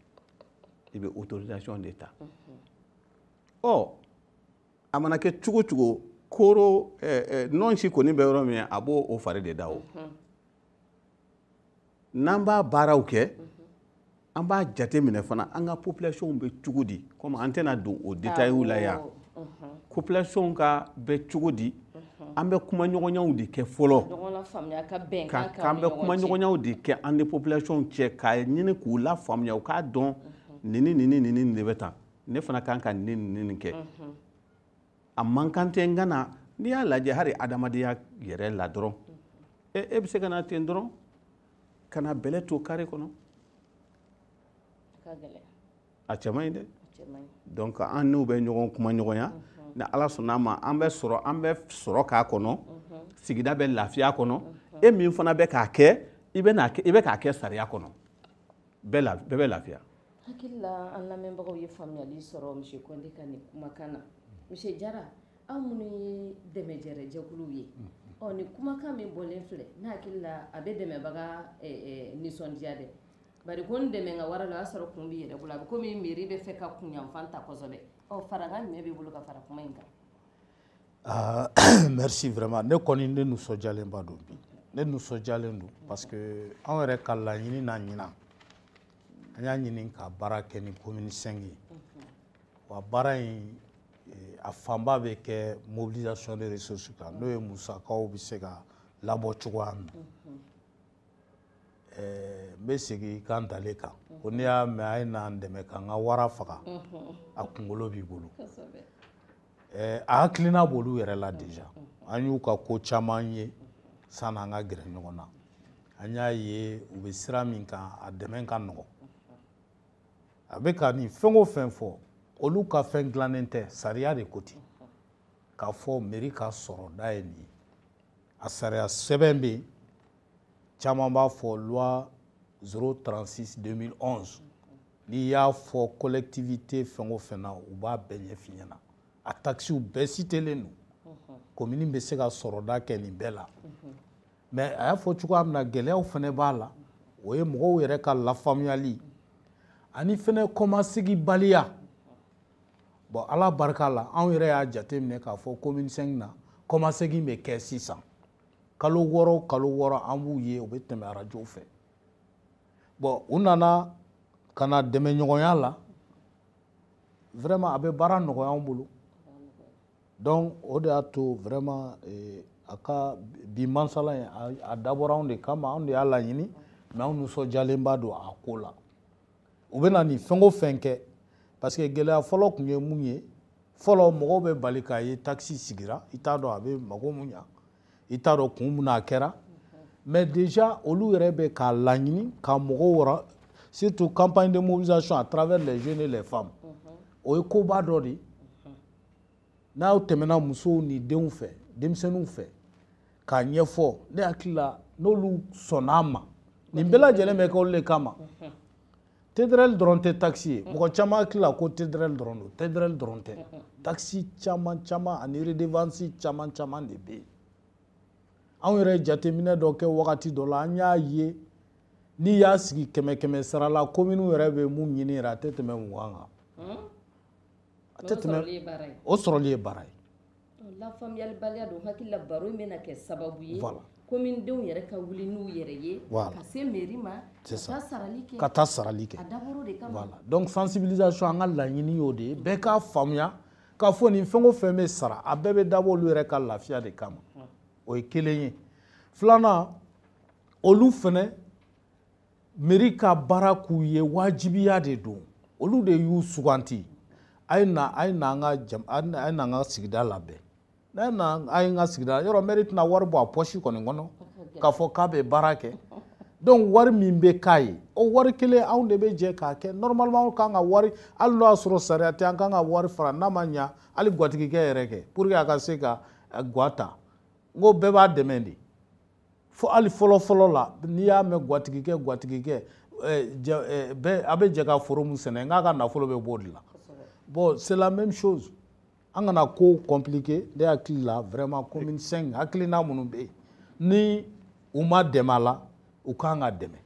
i bɛ autorisation de ta ɔ a mana kɛ cogo cogo koro nɔnsi kɔni bɛ yɔrɔ min a b'o o fari de da o n'an b'a baaraw kɛ an b'a jate minɛ fana an ka population bɛ cogo di komi an tɛna don o détails la yan population ka bɛ cogo di an bɛ kuma ɲɔgɔnyaw de kɛ fɔlɔ k'an bɛ kuma ɲɔgɔnyaw de kɛ an ni population cɛ k'a ɲini k'u lafaamuya u k'a dɔn nin ni nin ni nin de bɛ tan ne fana kan ka nin nin nin kɛ a man kan ten nka n'i y'a lajɛ hali adamadenya yɛrɛ la dɔrɔn e e bɛ se ka na ten dɔrɔn ka na bɛlɛ to kare kɔnɔ a cɛ man ɲi dɛ donc an n'u bɛ ɲɔgɔn kuma ɲɔgɔnya ni ala sɔnna a ma an bɛ sɔrɔ an bɛ sɔrɔ k'a kɔnɔ sigida bɛ lafiya kɔnɔ e min fana bɛ k'a kɛ i bɛ k'a kɛ sariya kɔnɔ bɛɛ bɛ lafiya Hakili la an lamɛnbagaw ye faamuyali sɔrɔ monsieur Kɔnte ka nin kumakan na monsieur Jara aw minnu ye dɛmɛjɛjɛkulu ye ɔ ni kumakan min bɔlen filɛ ne hakili la a bɛ dɛmɛbaga nisɔndiya dɛ ba ko n dɛmɛ ka wara la y'a sɔrɔ kun b'i yɛrɛ bolo a bɛ komi meri b'a fɛ ka kunfan ta kɔsɛbɛ ɔ farankan ɲɛ b'i bolo ka fara kuma in kan merci vraiment ne kɔni ne nisɔndiyalenba don bi ne nisɔndiyalen don parce que anw yɛrɛ ka laɲini na ɲinan an y'a ɲini ka baara kɛ ni komini sɛngi ye wa baara in eh, a fanba bɛ kɛ mobilisation de ressources kan n'o ye musakaw bɛ se ka labɔ cogoya min eh, n bɛ segin ka ntalen kan ko n'i y'a mɛn a ye n'an dɛmɛ k'an ka wara faga a kunkolo b'i bolo eh, a hakilina b'olu yɛrɛ la deja an y'u ka ko caman ye sanni an ka gɛrɛ ɲɔgɔn na an y'a ye u bɛ sira min kan a dɛmɛ ka nɔgɔn a bɛ ka nin fɛn o fɛn fɔ olu ka fɛn dilannen tɛ sariya de ko ten k'a fɔ meri ka sɔrɔda ye nin ye a sariya sɛbɛn bɛ yen caman b'a fɔ loi 036 2011 n'i y'a fɔ collectivité fɛn o fɛn na u b'a bɛɛ ɲɛf'i ɲɛna a takisiw bɛɛ sitelen don mhm. komini bɛ se ka sɔrɔda kɛ nin bɛɛ la mhm. mais a y'a fɔ cogoya min na gɛlɛyaw fɛnɛ b'a la o ye mɔgɔw yɛrɛ ka lafaamuyali ani fɛnɛ kɔmaseginbaliya bɔn ala barika la anw yɛrɛ y'a jateminɛ k'a fɔ komini sɛngi na kɔmasegin bɛ kɛ sisan kalo wɔɔrɔ kalo wɔɔrɔ an b'u ye u bɛ tɛmɛ arajow fɛ bɔn u nana ka na dɛmɛɲɔgɔnya la vraiment a bɛ baara nɔgɔya anw bolo donc o de y'a to vraiment eh, a ka bi mansala ye a dabɔra anw de kama anw de y'a laɲini mais anw nisɔndiyalenba don a ko la u bɛ na nin fɛn o fɛn kɛ parce que gɛlɛya fɔlɔ tun ye mun ye fɔlɔ mɔgɔw bɛ bali k'a ye takisi sigira i t'a dɔn a bɛ mago mun ɲa i t'a dɔn kun mun na a kɛra mais déjà olu yɛrɛ bɛ k'a laɲini ka mɔgɔw wɔrɔ surtout campagne de mobilisation à travers les jeunes et les femmes o ye koba dɔ de ye n'u tɛmɛna musow ni denw fɛ denmisɛnninw fɛ k'a ɲɛfɔ ne hakili la n'olu sɔnn'a ma nin bɛɛ lajɛlen bɛ kɛ olu de kama tedrɛli dɔrɔn tɛ takisi ye mɔgɔ caman hakili la ko tedrɛli dɔrɔn don tedrɛli dɔrɔn tɛ takisi caman caman ani redevansi caman caman de bɛ yen anw yɛrɛ jateminɛ dɔ kɛ wagati dɔ la an y'a ye n'i y'a sigi kɛmɛ kɛmɛ sara la kominiw yɛrɛ bɛ min ɲini yɛrɛ a tɛ tɛmɛ mugan kan a tɛ tɛmɛ o sɔrɔli ye baara ye lafaamuyalibaliya don n hakili la baro in bɛna kɛ sababu ye voilà. komini denw yɛrɛ ka wuli n'u yɛrɛ ye voilà. ka se mɛri ma ka taa sarali kɛ ka taa sarali kɛ a dabɔr'o de kama voilà. donc sensibilisation an ka laɲini y'o de ye bɛɛ k'a faamuya k'a fɔ ni fɛn o fɛn bɛ sara a bɛɛ bɛ dabɔ olu yɛrɛ ka lafiya de kama o ye kelen ye filanan olu fɛnɛ mɛri ka baara k'u ye wajibiya de don olu de y'u suganti a ye na a ye na an ka jam a ye na an ka sigida labɛn n'a na a ye n ka sigida yɔrɔ mɛri tɛna wari bɔ a pɔsi kɔni kɔnɔ k'a fɔ k'a bɛ baara kɛ donc wari min bɛ k'a ye o wari kelen anw de bɛ jɛ k'a kɛ normalement an kan ka wari hali n'o y'a sɔrɔ sariya tɛ an kan ka wari fara n'a ma ɲa hali gwatigikɛ yɛrɛ kɛ pour que a ka se ka gwa ta n ko bɛɛ b'a dɛmɛ de fo hali fɔlɔfɔlɔ la n'i y'a mɛn gwatigikɛ gwatigikɛ a bɛ jɛ ka foro min sɛnɛ n'a ka nafolo bɛ b'o de la bon c'est la même chose an kana ko compliqué ne hakili la vraiment commune 5 hakilina minnu bɛ yen ni u ma dɛmɛ a la u kan ka dɛmɛ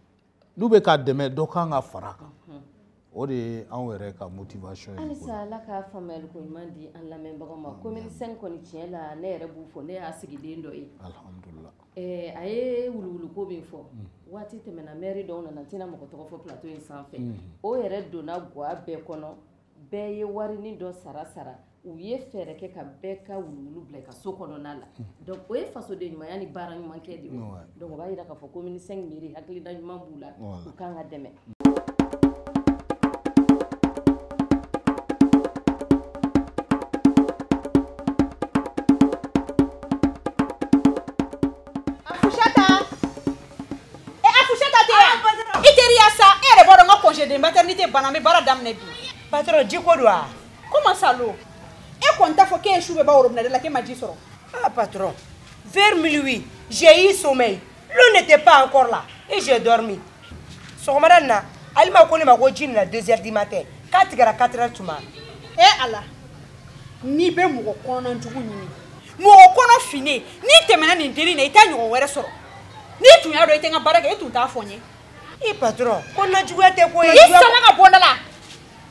n'u bɛ ka dɛmɛ dɔ kan ka fara a kan o de ye anw yɛrɛ ka motivation ye halisa ala ka faamuyali ko ɲuman di an lamɛnbagaw ma commune 5 kɔni tiɲɛ la ne yɛrɛ b'u fo ne y'a sigiden dɔ ye alhamdulila eh, a ye wuluwuluko min fɔ mm. waati tɛmɛna mɛri dɔw nana n tɛna mɔgɔ tɔgɔ fɔ plateau in sanfɛ mm. o yɛrɛ donna gwa bɛɛ kɔnɔ bɛɛ ye warini dɔ sara sara u ye fɛɛrɛ kɛ ka bɛɛ ka wuluwulu bila a ka so kɔnɔna la donc o ye fasoden ɲumanya ni baara ɲuman kɛ de donc o b'a jira k'a fɔ commune 5 mɛri hakilina ɲuman b'u la u kan ka dɛmɛ e congé de maternité banna n bɛ baara daminɛ bi patron jiko don wa Comment ça l'eau E kɔni t'a fɔ k'e ye su bɛɛ ban robinet da la k'e ma ji sɔrɔ. Ah patron, vers minuit, j'ai eu sommeil. L'eau n'était pas encore là et j'ai dormi. Sɔgɔmada in na, Alima ko ne ma ko ji nana 2 heures du matin k'a tigɛra 4 heures tuma. Eh Ala, n'i bɛ mɔgɔ kɔnɔna jugu ɲini, mɔgɔ kɔnɔ finnen, n'i tɛmɛna nin dennin na i t'a ɲɔgɔn wɛrɛ sɔrɔ. N'i tun y'a dɔn i tɛ n ka baara kɛ, e tun t'a fɔ n ye. I patron, kɔnɔnajuguya tɛ ko ye. I sama ka bɔ n da la.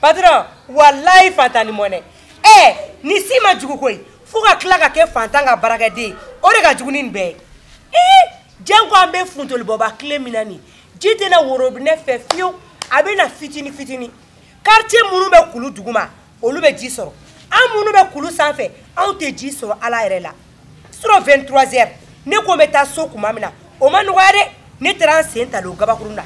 patron walayi fantan ni mɔnɛ ɛ eh, nin si man jugu koyi fo ka tila ka kɛ fantan ka baarakɛden o de ka jugu ni nin bɛɛ ye ee janko an bɛ funtenibɔba tile min na nin ji tɛ na worobinɛ fɛ fiyewu a bɛ na fitini fitini quartier minnu bɛ kulu duguma olu bɛ ji sɔrɔ an minnu bɛ kulu sanfɛ anw tɛ ji sɔrɔ ala yɛrɛ la surɔ 23 heures ne ko n bɛ taa so tuma min na o ma nɔgɔya dɛ ne taara n sen talon gabakurun na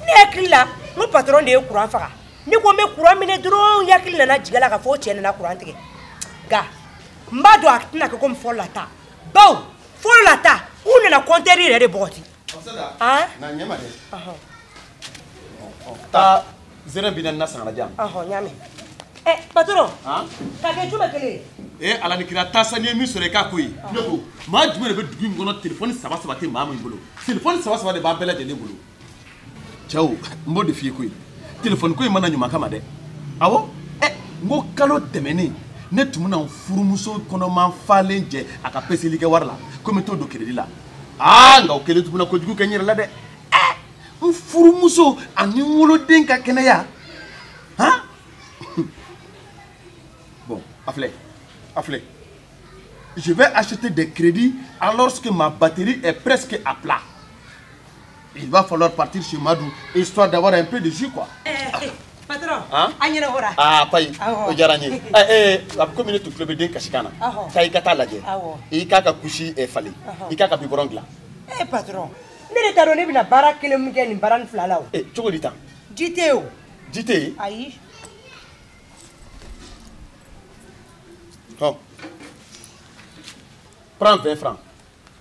ne hakili la n ko patɔrɔn de ye kuran faga ne ko n bɛ kuran mɛnɛ dɔrɔn n hakili nana jigin a la ka fɔ o cɛ nana kuran tigɛ nka n b'a dɔn a tɛna kɛ komi fɔlɔ la ta bawo fɔlɔ la ta u nana kɔntɛri yɛrɛ de bɔgɔti taa zɛrɛ bi naani na sangalajan ɲaami patron ka kɛ juma kelen ye ee ala ni kira taa sa n'i ye min sɔrɔ i k'a ko ye ne ko maa jumɛn de bɛ dugu in kɔnɔ telefɔni saba saba tɛ maa min bolo telefɔni saba saba de b'a bɛɛ lajɛlen bolo cɛ n b'o de f'i ye koyi telefɔni ko in ma na ɲuman kama dɛ awɔ ɛ n ko kalo tɛmɛnen ne tun bɛna n furumuso kɔnɔman falen jɛ a ka peseli kɛ wari la ko n bɛ t'o don keredi la aa nka o kɛlen tun bɛna kojugu kɛ n yɛrɛ la dɛ eh, n furumuso ani n woloden ka kɛnɛya han bon a filɛ a filɛ je vais acheter des crédits alors que ma batterie est presque à plat Il va falloir partir chez Madou, histoire d'avoir un peu de jus, quoi. Eh, eh, eh, patron, hein? an yɛrɛ hora. Ah, payi, o diyara n ye. Eh, eh, a bɛ komi ne tun tulo bɛ den kasikan na. Awɔ. Taa i ka taa lajɛ. Awɔ. I k'a ka kusi falen. Awɔ. I k'a ka bibɔrɔn dilan. Eh, patron, ne de t'a dɔn ne bɛna baara kelen min kɛ nin baaranin fila la o. Eh, cogo di tan? Ji tɛ yen o. Ji tɛ yen? Ayi. Hɔn. Prends 20 francs.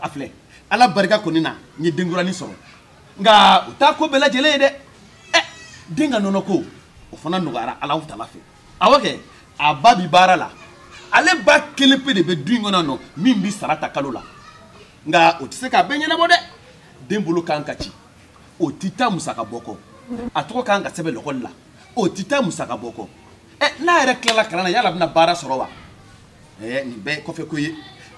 a filɛ ala barika kɔni na n ye denkuranin sɔrɔ nka o t'a ko bɛɛ lajɛlen ye dɛ ɛ den ka nɔnɔ ko o fana nɔgɔyara ala tala fɛ awɔ kɛ a ba bi baara la ale ba kelen pe de bɛ du in kɔnɔ nɔ min bi sara ta kalo la nka o tɛ se k'a bɛɛ ɲɛnabɔ dɛ den bolo ka kan ka ci o tɛ taa musaka bɔ kɔ a tɔgɔ ka kan ka sɛbɛn lɔkɔli la o tɛ taa musaka bɔ kɔ ɛ n'a yɛrɛ tilala kalan na yala a bɛna baara sɔrɔ wa ɛɛ nin bɛɛ ye kɔfɛ ko ye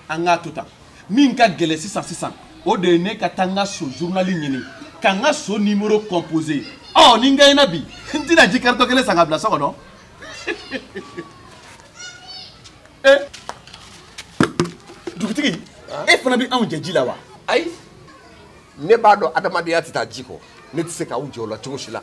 an k'a to tan min ka gɛlɛn sisan sisan o de ye ne ka taa n ka so journal ɲini ka n ka so nimoro composer ɔ ni n gaɲɛna bi n tɛna ji karitɔn kelen san ka bila so kɔnɔ eh. dugutigi e fana bɛ anw jɛ ji la wa ayi ne b'a dɔn adamadenya tɛ taa ji kɔ ne tɛ se k'aw jɛ o la cogo si la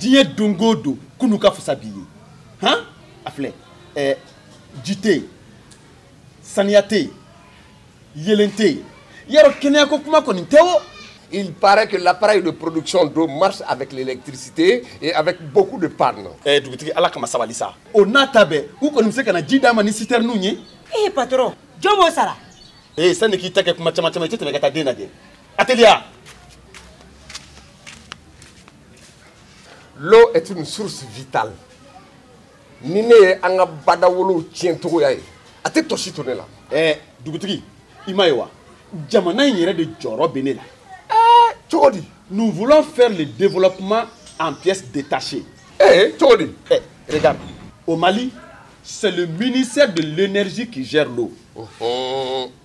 diɲɛ don o don kunu ka fisa bi ye han a filɛ ɛɛ ji tɛ yen saniya tɛ yen yeelen tɛ yen yɔrɔ kɛnɛya ko kuma kɔni tɛ o. Il paraît que l'appareil de production d'eau marche avec l'électricité et avec beaucoup de pannes. Eh, dugutigi ala kama sabali sa. O n'a ta bɛɛ, u kɔni bɛ se ka na ji d'an ma ni citerne ye. Eh patron, jɔn b'o sara? Eh sani k'i ta kɛ kuma caman caman i tɛ tɛmɛ ka taa den lajɛ. Allez. L'eau est une source vitale. Ni ne ye an ka badawolow tiɲɛ cogoya ye a tɛ tɔsi to ne la. Ɛɛ dugutigi i ma ye wa jamana in yɛrɛ de jɔrɔ bɛ ne la. Ɛɛ cogo di? Nous voulons faire le développement en pièces détachées. Ee cogo di? Ɛ regarde au Mali c'est le ministère de l'énergie qui gère l'eau.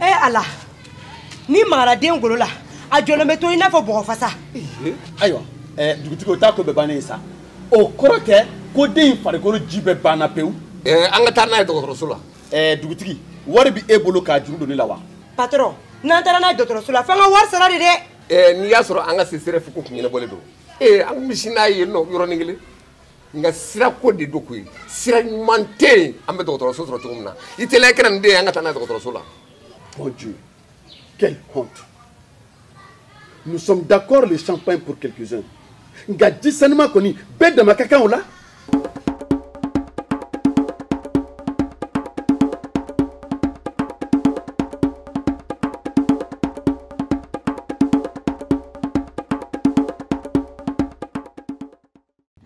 e eh, ala ni magara den golo la a jɔlen bɛ to i n'a fɔ bɔgɔ fasa eh, ayiwa eh, dugutigi o t'a ko bɛɛ bannen ye sa o kɔrɔ tɛ ko den in farikolo ji bɛɛ banna pewu an ka taa n'a ye dɔgɔtɔrɔso la dugutigi wari bɛ e bolo k'a juru don ne la wa patɔrɔn n'an taara n'a ye dɔgɔtɔrɔso la f'an ka wari sara de dɛ n'i y'a sɔrɔ an ka csref ko kun ɲɛnabɔlen don ee an kun bɛ sin n'a ye yen nɔ yɔrɔnin kelen nka sira ko de do koyi sira ɲuman tɛ yen an bɛ dɔgɔtɔrɔso sɔrɔ cogo min na i teliya ka na ni den ye an ka taa n'a ye dɔgɔtɔrɔso la. mon dieu quelle honte nous sommes d'accord le champagne pour quelques-uns nka ji sanima kɔni bɛɛ dama ka kan o la.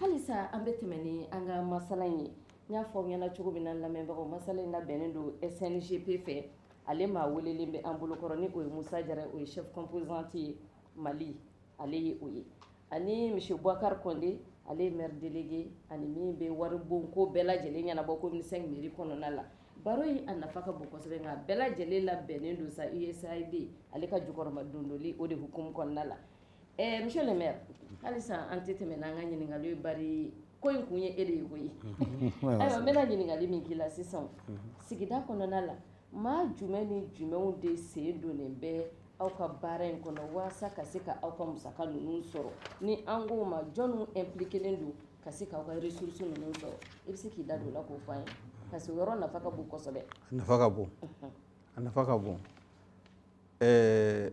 halisa an bɛ tɛmɛ ni an ka masala in ye n y'a fɔ aw ɲɛna cogo min na lamɛnbagaw masala in labɛnnen don sngp fɛ ale maa welelen bɛ an bolokɔrɔ ni o ye musa jara o ye chef composante ye mali ale ye o ye ani monsieur bukari kɔnde ale ye maire délégué ani min bɛ waribonko bɛɛ lajɛlen ɲɛnabɔ commune 5 mairie kɔnɔna la baro in a nafa ka bon kosɛbɛ nka bɛɛ lajɛlen labɛnnen don sa usaid ale ka jukɔrɔmadondoli o de hukumu kɔnɔna la Ɛɛ monsieur le maire halisa an tɛ tɛmɛ n'an ka ɲininkali ye bari ko in kun ye e de ye koyi. Ayiwa n bɛna ɲininkali min k'i la sisan sigida kɔnɔna la maa jumɛn ni jumɛnw de sen donnen bɛ aw ka baara in kɔnɔ waasa ka se ka aw ka musaka ninnu sɔrɔ ni an k'o ma jɔnniw impliquelen don ka se k'aw ka ressources ninnu sɔrɔ i bɛ se k'i da don o la k'o fɔ an ye parce que o yɔrɔ nafa ka bon kosɛbɛ. A nafa ka bon a nafa ka bon ɛɛ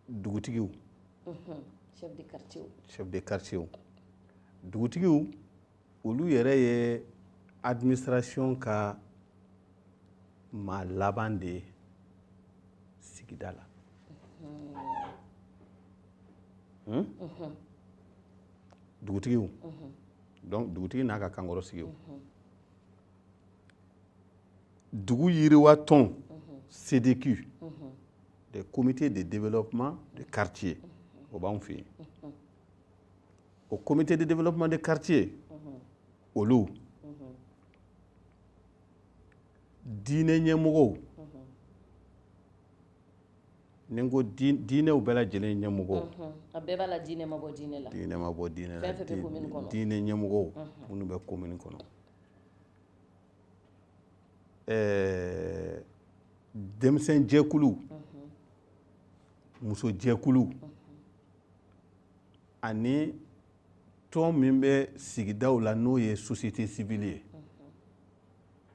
dugutigiw chef de quartier chef de quartier dugutigiw olu yɛrɛ ye administration ka maa laban de ye sigida la hmm? dugutigiw donc dugutigi n'a ka kankɔrɔsigiw dugu yiriwa tɔn cdq des comités de développement de quartier o b'anw fɛ yen o comité de développement de quartier olu diinɛ ɲɛmɔgɔw ni n ko diinɛw bɛɛ lajɛlen ɲɛmɔgɔw a bɛɛ b'a la diinɛ ma bɔ diinɛ la diinɛ ma bɔ diinɛ la diinɛ ɲɛmɔgɔw minnu bɛ komini kɔnɔ ɛɛ denmisɛn jɛkulu muso jɛkulu ani tɔn min bɛ sigidaw la n'o ye société civile ye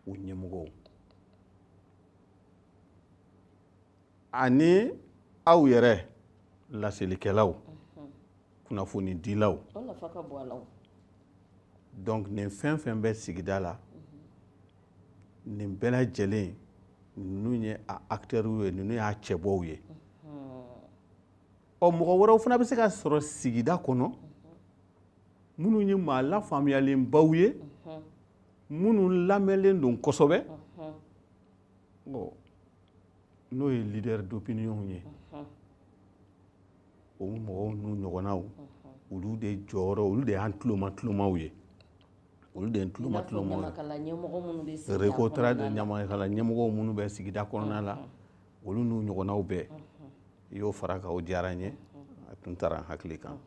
u ɲɛmɔgɔw ani aw yɛrɛ laselikɛlaw kunnafoni dilaw donc nin fɛn fɛn bɛ sigida la mhm. nin bɛɛ lajɛlen ninnu ye a acteurw ye ninnu y'a cɛbɔw ye mhm. ɔ mɔgɔ wɛrɛw fana bɛ se ka sɔrɔ sigida kɔnɔ mhm. minnu ye maa lafaamuyalenbaw ye minnu lamɛnlen don kosɛbɛ n'o ye leader d'opinion ye o mɔgɔw n'u ɲɔgɔnnaw olu de jɔyɔrɔ olu de y'an tuloma tulomaw ye olu de ye tuloma tulomaw ye recotrade ɲamakala ɲɛmɔgɔw minnu bɛ sigida kɔnɔna la olu n'u ɲɔgɔnnaw bɛɛ i y'o fara kan o diyara n ye a tun taara n hakili kan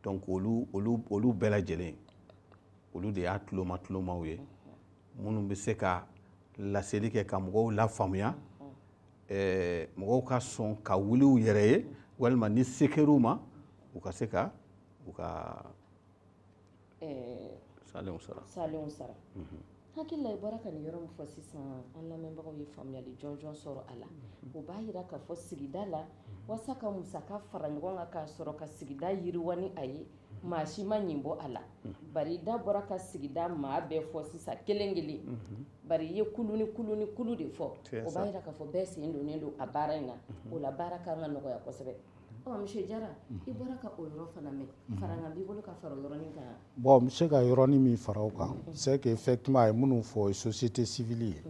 donc olu olu olu bɛɛ lajɛlen olu de y'a tuloma tulomaw ye minnu bɛ se ka laseli kɛ ka mɔgɔw lafaamuya ɛɛ mɔgɔw ka sɔn ka wuli u yɛrɛ ye walima ni se kɛr'u ma u ka se ka u ka salenw sara salenw sara mhm. hakili la i bɔra ka nin yɔrɔ min fɔ sisan an lamɛnbagaw ye faamuyali jɔnjɔn sɔrɔ a la mhm. o b'a yira k'a fɔ sigida la mhm. walasa ka musaka fara ɲɔgɔn kan k'a sɔrɔ ka sigida yiriwa ni a ye maa si ma ɲin bɔ a la bari i da bɔra ka sigida maa bɛɛ fɔ sisan kelen kelen bari i ye kulu ni kulu ni kulu de fɔ o b'a yira k'a fɔ bɛɛ sen donnen don a baara in na o la baara ka kan ka nɔgɔya kosɛbɛ ɔ monsieur jara i bɔra ka o yɔrɔ fana mɛn farankan b'i bolo ka fara o yɔrɔnin kan bon n bɛ se ka yɔrɔnin min fara o kan c'est que effectivement a ye minnu fɔ o ye société civile ye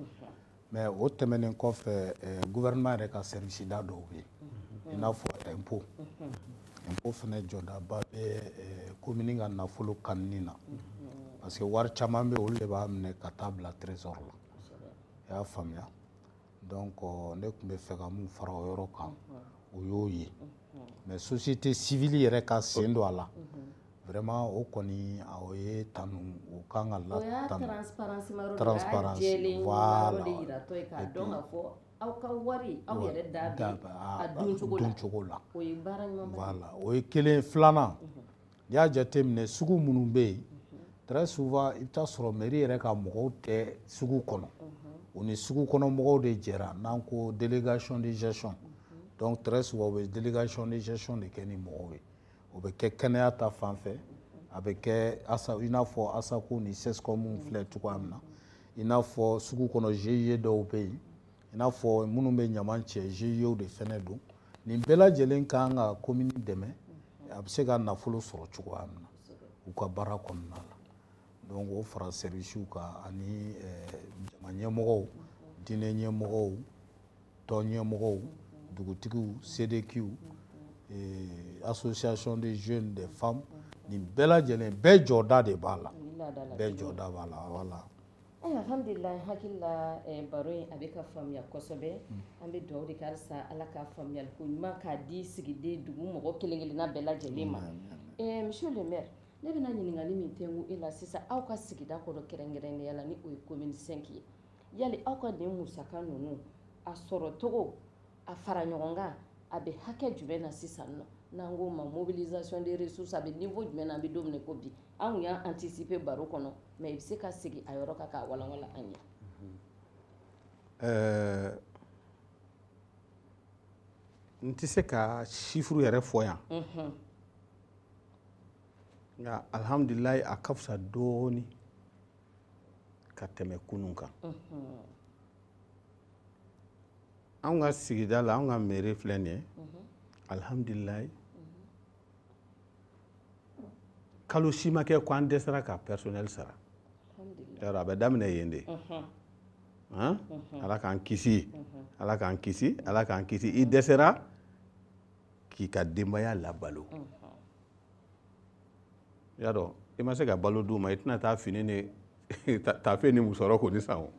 mais o tɛmɛnen kɔfɛ gouvernement yɛrɛ ka sɛriwisida dɔw bɛ yen i n'a fɔ impôt impôt fana jɔdaba bɛ komini ka nafolo kanini na parce que wari caman bɛ olu de b'a minɛ ka taa bila trésor la i y'a faamuya donc ne tun bɛ fɛ ka min fara o yɔrɔ kan o y'o ye mais société civile yɛrɛ ka sen don a la vraiment o kɔni o ye tanu o kan ka la tanu transparence voilà et puis aw ka wari aw yɛrɛ da bɛ a don cogo la o ye baara ɲuman voilà o ye kelen filanan n'i y'a jateminɛ sugu minnu bɛ yen très souvent i bɛ taa sɔrɔ mairie yɛrɛ ka mɔgɔw tɛ sugu kɔnɔ u ni sugu kɔnɔ mɔgɔw de jɛra n'an ko délégation de gestion donc très souvent u bɛ délégation de gestion de kɛ ni mɔgɔw ye o bɛ kɛ kɛnɛya ta fan fɛ a bɛ kɛ asa i n'a fɔ ASACO ni CSCOM filɛ cogoya min na i n'a fɔ sugu kɔnɔ GIE dɔw bɛ yen i n'a fɔ minnu bɛ ɲaman cɛ GIEw de fana don nin bɛɛ lajɛlen ka kan ka komini dɛmɛ a bɛ se ka nafolo sɔrɔ cogoya min na u ka baara kɔnɔna la donc o fara sɛriwisiw kan ani eh, jama ɲɛmɔgɔw diinɛ ɲɛmɔgɔw tɔn ɲɛmɔgɔw dugutigiw CDQw eh, association des jeunes des femmes nin bɛɛ lajɛlen bɛɛ jɔda de b'a la bɛɛ jɔda b'a la wala Alhamdulilayi hakili la eh, baro in a bɛ ka faamuya kosɛbɛ mm. an bɛ dugawu de kɛ walisa ala ka faamuyali ko ɲuman k'a di sigida dugu mɔgɔ kelen-kelenna bɛɛ lajɛlen ma eh, monsieur le maire ne bɛna ɲininkali min kɛ e la sisan aw ka sigida kɔnɔ kɛrɛnkɛrɛnnenya la ni o ye commune cinq ye yali aw ka nin musaka ninnu a sɔrɔ cogo a fara ɲɔgɔn kan a bɛ hakɛ jumɛn na sisan nɔ n'an k'o ma mobilisation des ressources a bɛ niveau jumɛn na an bɛ don min na i ko bi an tun y'a anticiper baro kɔnɔ mais i bɛ se ka segin a yɔrɔ kan k'a walawala an ye. Ɛɛ n tɛ se ka chiffre yɛrɛ fɔ yan nka alihamudulilayi a ka fisa dɔɔnin. ka tɛmɛ kunun kan anw ka sigida la anw ka mairie filɛ nin ye alihamdulilayi kalo si ma kɛ ko an dɛsɛra ka personnel sara yɔrɔ a bɛ daminɛ yen de ala k'an kisi ala k'an kisi ala k'an kisi i dɛsɛra k'i ka denbaya labalo i y'a dɔn i ma se ka balo d'u ma i tɛna taa fini ni taafe ni musɔrɔ kɔni san o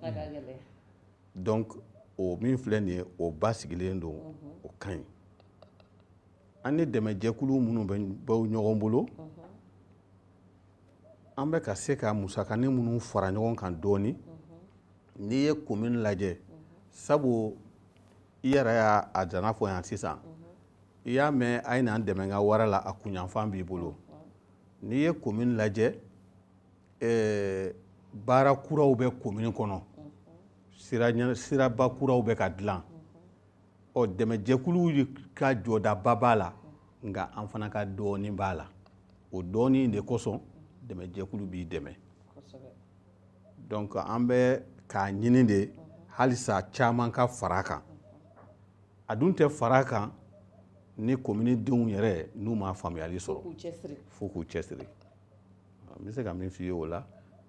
donc o min filɛ nin ye o basigilen don o ka ɲi an ni dɛmɛjɛkulu minnu bɛ ɲɔgɔn bolo an bɛ ka se ka musakani minnu fara ɲɔgɔn kan dɔɔni n'i ye komini lajɛ sabu i yɛrɛ y'a a dana fɔ yan sisan i y'a mɛn a ye na n dɛmɛ n ka wara la a kunyanfan b'i bolo n'i ye komini lajɛ eh, baara kuraw bɛ komini kɔnɔ siraba kuraw bɛ ka dilan ɔ dɛmɛjɛkuluw ka jɔdaba b'a la nka an fana ka dɔɔnin b'a la o dɔɔnin de kosɔn dɛmɛjɛkulu b'i dɛmɛ donc an bɛ k'a ɲini de halisa caman ka fara a kan a dun tɛ fara kan ni komini denw yɛrɛ n'u ma faamuyali sɔrɔ fo k'u cɛsiri n bɛ se ka min f'i ye o la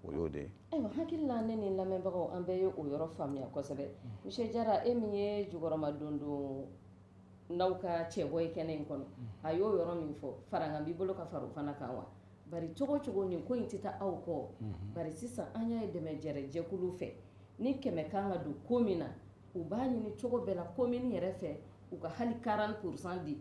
o y'o de ye ayiwa n hakili la ne ni lamɛnbagaw an bɛɛ ye o yɔrɔ faamuya kosɛbɛ monsieur jara e min ye jukɔrɔmadondonnaw ka cɛbɔ ye kɛnɛ in kɔnɔ a y'o yɔrɔ min fɔ farankan b'i bolo ka fara o fana kan wa bari cogo o cogo nin ko in tɛ taa aw kɔ bari sisan an y'a ye dɛmɛ jɛrɛ jɛkulu fɛ ni kɛmɛ kan ka don ko min na u b'a ɲini cogo bɛɛ la komini yɛrɛ fɛ u ka hali 40 pourcent di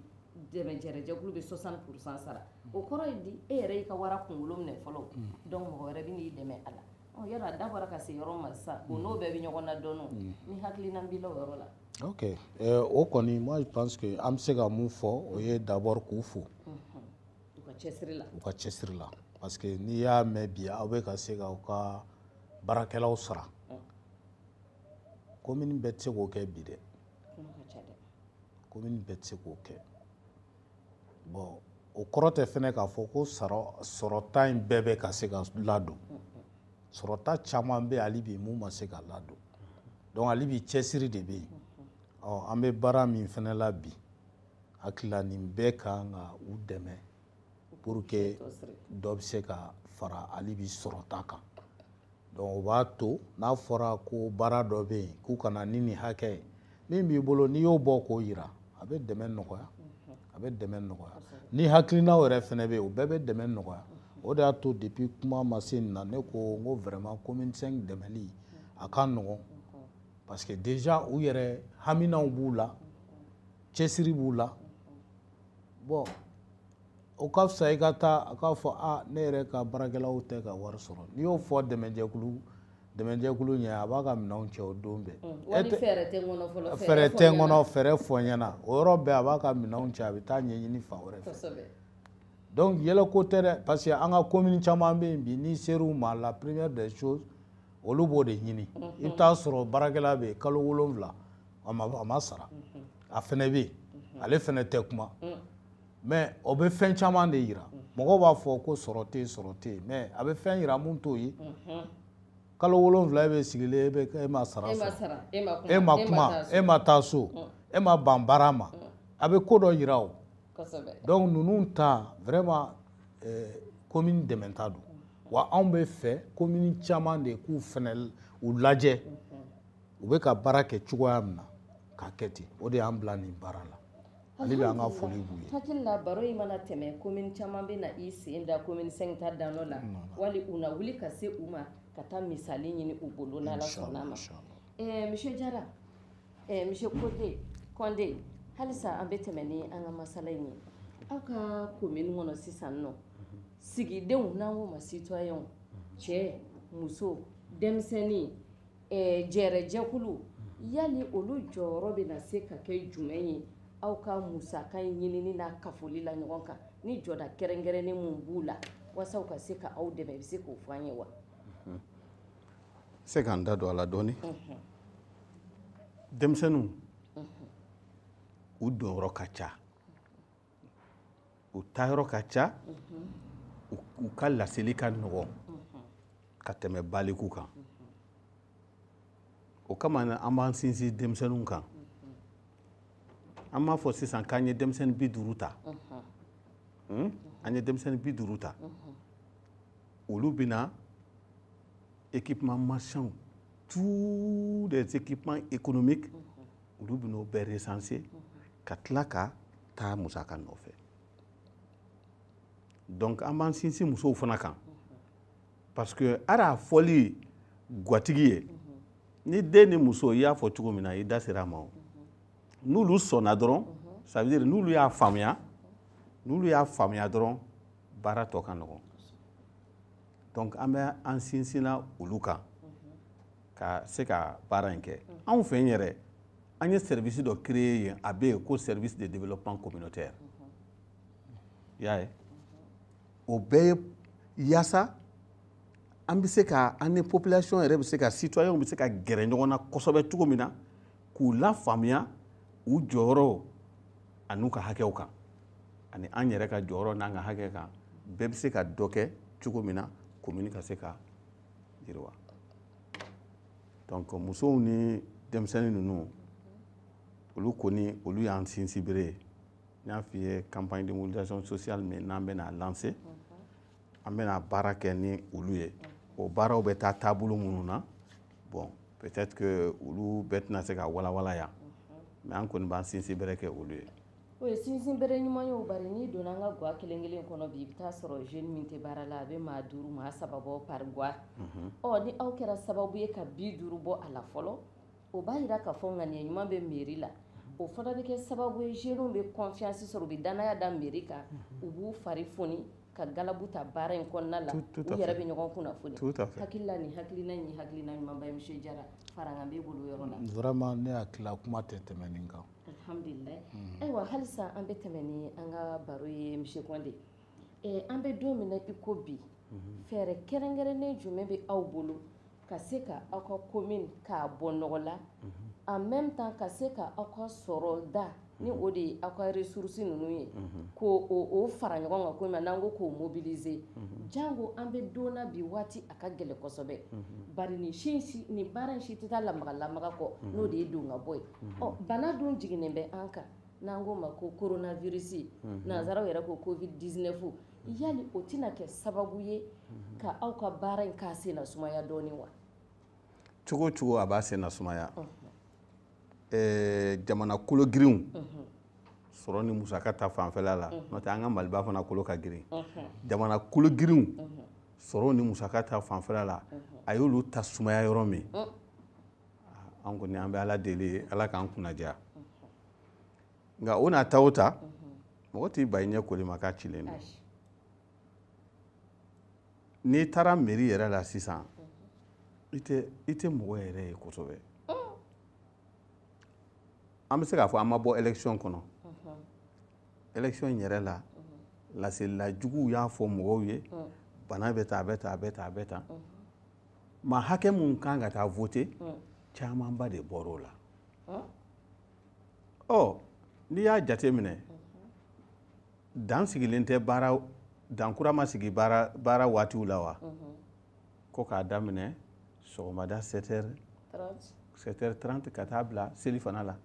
dɛmɛ jɛrɛjɛkulu bɛ 60 pourcent sara o kɔrɔ ye di e yɛrɛ y'i ka wara kunkolo minɛ fɔlɔ mm. donc mɔgɔ wɛrɛ bɛ n'i dɛmɛ a la ɔ yɔrɔ a da bɔra ka se yɔrɔ ma sisan o n'o bɛɛ bɛ ɲɔgɔn na dɔɔnin mm. ni hakilina b'i la o yɔrɔ la ok eh, o kɔni moi je pense que an bɛ se ka mun fɔ o ye d'abord k'u fo mm-hmm. u ka cɛsiri la u ka cɛsiri la parce que n'i y'a mɛn bi aw bɛ ka se ka u ka baarakɛlaw sara komini bɛɛ tɛ se k'o kɛ bi dɛ komini bɛɛ tɛ se k'o kɛ bɔn o kɔrɔ tɛ fɛnɛ k'a fɔ ko sɔrɔta in bɛɛ bɛ ka se ka ladon sɔrɔta caman bɛ hali bi mun ma se ka ladon donc hali bi cɛsiri de bɛ yen ɔ an bɛ baara min fɛnɛ la bi n hakili la nin bɛɛ kan ka u dɛmɛ pour que dɔ bɛ se ka fara hali bi sɔrɔta kan dɔnku o b'a to n'a fɔra ko baara dɔ bɛ yen k'u ka na ni nin hakɛ ye min b'i bolo n'i y'o bɔ k'o jira a bɛ dɛmɛ nɔgɔya a bɛ dɛmɛ nɔgɔya ni hakilinaw yɛrɛ fana bɛ yen o bɛɛ bɛ dɛmɛ nɔgɔya o de y'a to depuis kuma ma se nin na ne ko n ko vraiment commune 5 dɛmɛli a ka nɔgɔn parce que déjà u yɛrɛ haminaw b'u la cɛsiri b'u la bon o ka fisa i ka taa k'a fɔ a ne yɛrɛ ka baarakɛlaw tɛ ka wari sɔrɔ n'i y'o fɔ dɛmɛjɛkulu dɛmɛjɛkulu ɲɛ a b'a ka minɛnw cɛ o don bɛɛ mm, fɛɛrɛ tɛ n kɔnɔ fɛɛrɛ fɔ n ɲɛ na o yɔrɔ bɛɛ a b'a ka minɛnw cɛ a bɛ taa ɲɛɲini fan wɛrɛ fɛ donc yɛlɛko tɛ dɛ parce que an ka commune caman bɛ yen bi n'i ser'u ma la première des choses olu b'o de ɲini mm-hmm. i bɛ taa sɔrɔ baarakɛla bɛ yen kalo wolonwula a ma sara mm-hmm. a fana bɛ yen mm-hmm. ale fana tɛ kuma mm. mɛ o bɛ fɛn caman de yira mɔgɔw b'a fɔ ko sɔrɔ tɛ sɔrɔ tɛ yen mɛ a bɛ fɛn yira mun t'o ye kalo wolonwula e bɛ sigilen e bɛ e ma sara sɔrɔ e, e ma kuma e ma taa so e ma ban baara ma a bɛ ko dɔ yira o donc ninnu ta vraiment komin eh, dɛmɛta don wa anw b'a fɛ komin caman de k'u fɛnɛ u lajɛ u bɛ ka baara kɛ cogoya min na k'a kɛ ten o de y'an bila nin baara la ale bɛ an ka foli b'u ye hakili la baro in mana tɛmɛ komin caman bɛna i sen da komin cinq ta danɔ la wali u na wuli ka se u ma ka taa misali ɲini u bolo n'ala sɔnna ma eh, monsieur jara eh, monsieur kote kɔnde halisa an bɛ tɛmɛ ni an ka masala in ye aw ka komin kɔnɔ sisan nɔ sigidenw n'an k'o ma sitɔyɛnw cɛ muso denmisɛnnin eh, jɛrɛjɛkulu yali olu jɔyɔrɔ bɛna se ka kɛ jumɛn ye aw ka musaka in ɲinini n'a kafoli la ɲɔgɔn kan ni jɔda kɛrɛnkɛrɛnnen minnu b'u la walasa u ka se ka aw dɛmɛ i bɛ se k'o fɔ an ye wa se ka n da don a la dɔɔni denmisɛnninw u donyɔrɔ ka ca u taayɔrɔ ka ca u ka laseli ka nɔgɔn ka tɛmɛ balikuw kan o kama an b'an sinsin denmisɛnninw kan an b'a fɔ sisan k'an ye denmisɛnnin bi duuru ta hmm? an ye denmisɛnnin bi duuru ta olu bɛna équipement marchand tous les équipements économiques olu bɛn'o bɛɛ resanse ka tila ka taa musaka nɔfɛ donc an b'an sinsin musow fana kan parce que hali a fɔli gatigi ye ni den ni muso i y'a fɔ cogo min na i da sera a ma o n'olu sɔnna dɔrɔn ça veut dire n'olu y'a faamuya n'olu y'a faamuya dɔrɔn baara tɔ ka nɔgɔn donc an bɛ an sinsinna olu kan ka se ka baara in kɛ anw fɛ yɛrɛ an ye sɛrivisi dɔ kreye yen a bɛ yen ko service de développement communautaire i y'a ye o bɛɛ ye yaasa an bɛ se ka an ni population yɛrɛ bɛ se ka citoyenw bɛ se ka gɛrɛ ɲɔgɔn na kosɛbɛ cogo min na k'u lafaamuya u jɔyɔrɔ an'u ka hakɛw kan ani an yɛrɛ ka jɔyɔrɔ n'an ka hakɛ kan bɛɛ bɛ se ka dɔ kɛ cogo min na komini ka se ka yiriwa donc musow ni denmisɛnnin ninnu olu kɔni olu y'an sinsinbere ye n y'a f'i ye campagne de mobilisation sociale min n'an bɛna lancer an bɛna baara kɛ ni olu ye o baaraw bɛ taa taabolo minnu na bon peut-être que olu bɛɛ tɛna se ka walawala yan mais an kɔni b'an sinsinbere kɛ olu ye O ye sinsin bere ɲuman ye bari n'i donna an ka ga kelen kelen kɔnɔ bi i bɛ t'a sɔrɔ jeune min tɛ baara la a bɛ maa duuru maa saba bɔ par ga ɔ ni aw kɛra sababu ye ka bi duuru bɔ a la fɔlɔ o b'a jira k'a fɔ ŋaniya ɲuman bɛ mairie la o fana bɛ kɛ sababu ye jeunew bɛ confiance sɔrɔ u bɛ dannaya da mairie kan u b'u fa foni ka gabu ta baara in kɔnɔna la yɛrɛ bɛ ɲɔgɔn kun fɔ hakilila ni hakiliina ni hakiliina ɲuman jara fara bɛ bolo yɔrɔ la ne hakili kuma tɛ tɛmɛn nin kan alhamdulilayi hmm. ayiwa halisa an bɛ tɛmɛ ni an ka baro ye monsieur Kɔnde eh, an bɛ don min na i ko bi hmm. fɛɛrɛ kɛrɛnkɛrɛnnen jumɛn bɛ aw bolo ka se ka aw ka commune k'a bɔ nɔgɔ la hmm. en même temps ka se ka aw ka sɔrɔda ni o de ye aw ka ressources ninnu ye k'o fara ɲɔgɔn kan komi n'an ko k'o mobiliser jango an bɛ don na bi waati a ka gɛlɛn kosɛbɛ bari nin si nin baara in si tɛ taa lamaga lamaga kɔ n'o de ye don ka bɔ ye Bana dun jiginnen bɛ an kan n'an k'o ma ko koronavirisi nansaraw yɛrɛ ko covid-19 yala o tɛna kɛ sababu ye ka aw ka baara in k'a sen na sumaya dɔɔnin wa cogo cogo a b'a sen na sumaya jamana kolo girinw sɔrɔ ni musaka ta fanfɛla la n'o tɛ an ka maliba fana kolo ka girin jamana kolo girinw sɔrɔ ni musaka ta fanfɛla la a y'olu ta sumaya yɔrɔ min an kɔni an bɛ ala deli ye ala k'an kunnadiya nka o n'a ta o ta mɔgɔ t'i ban i ɲɛ koli ma k'a cilen don n'i taara mairie yɛrɛ la sisan i tɛ i tɛ mɔgɔ yɛrɛ ye kosɛbɛ an bɛ se k'a fɔ an ma bɔ election kɔnɔ election yɛrɛ la laselila juguw y'a fɔ mɔgɔw ye bana bɛ ta a bɛ ta a bɛ ta a bɛ ta maa hakɛ minnu kan ka taa voter hmm. camanba de bɔr'o la hmm. ɔ n'i y'a jateminɛ hmm. dan sigilen tɛ baara dan kura ma sigi baara baara waatiw la wa ko k'a daminɛ sɔgɔmada 7 heures 7 heures 30 ka taa bila selifana la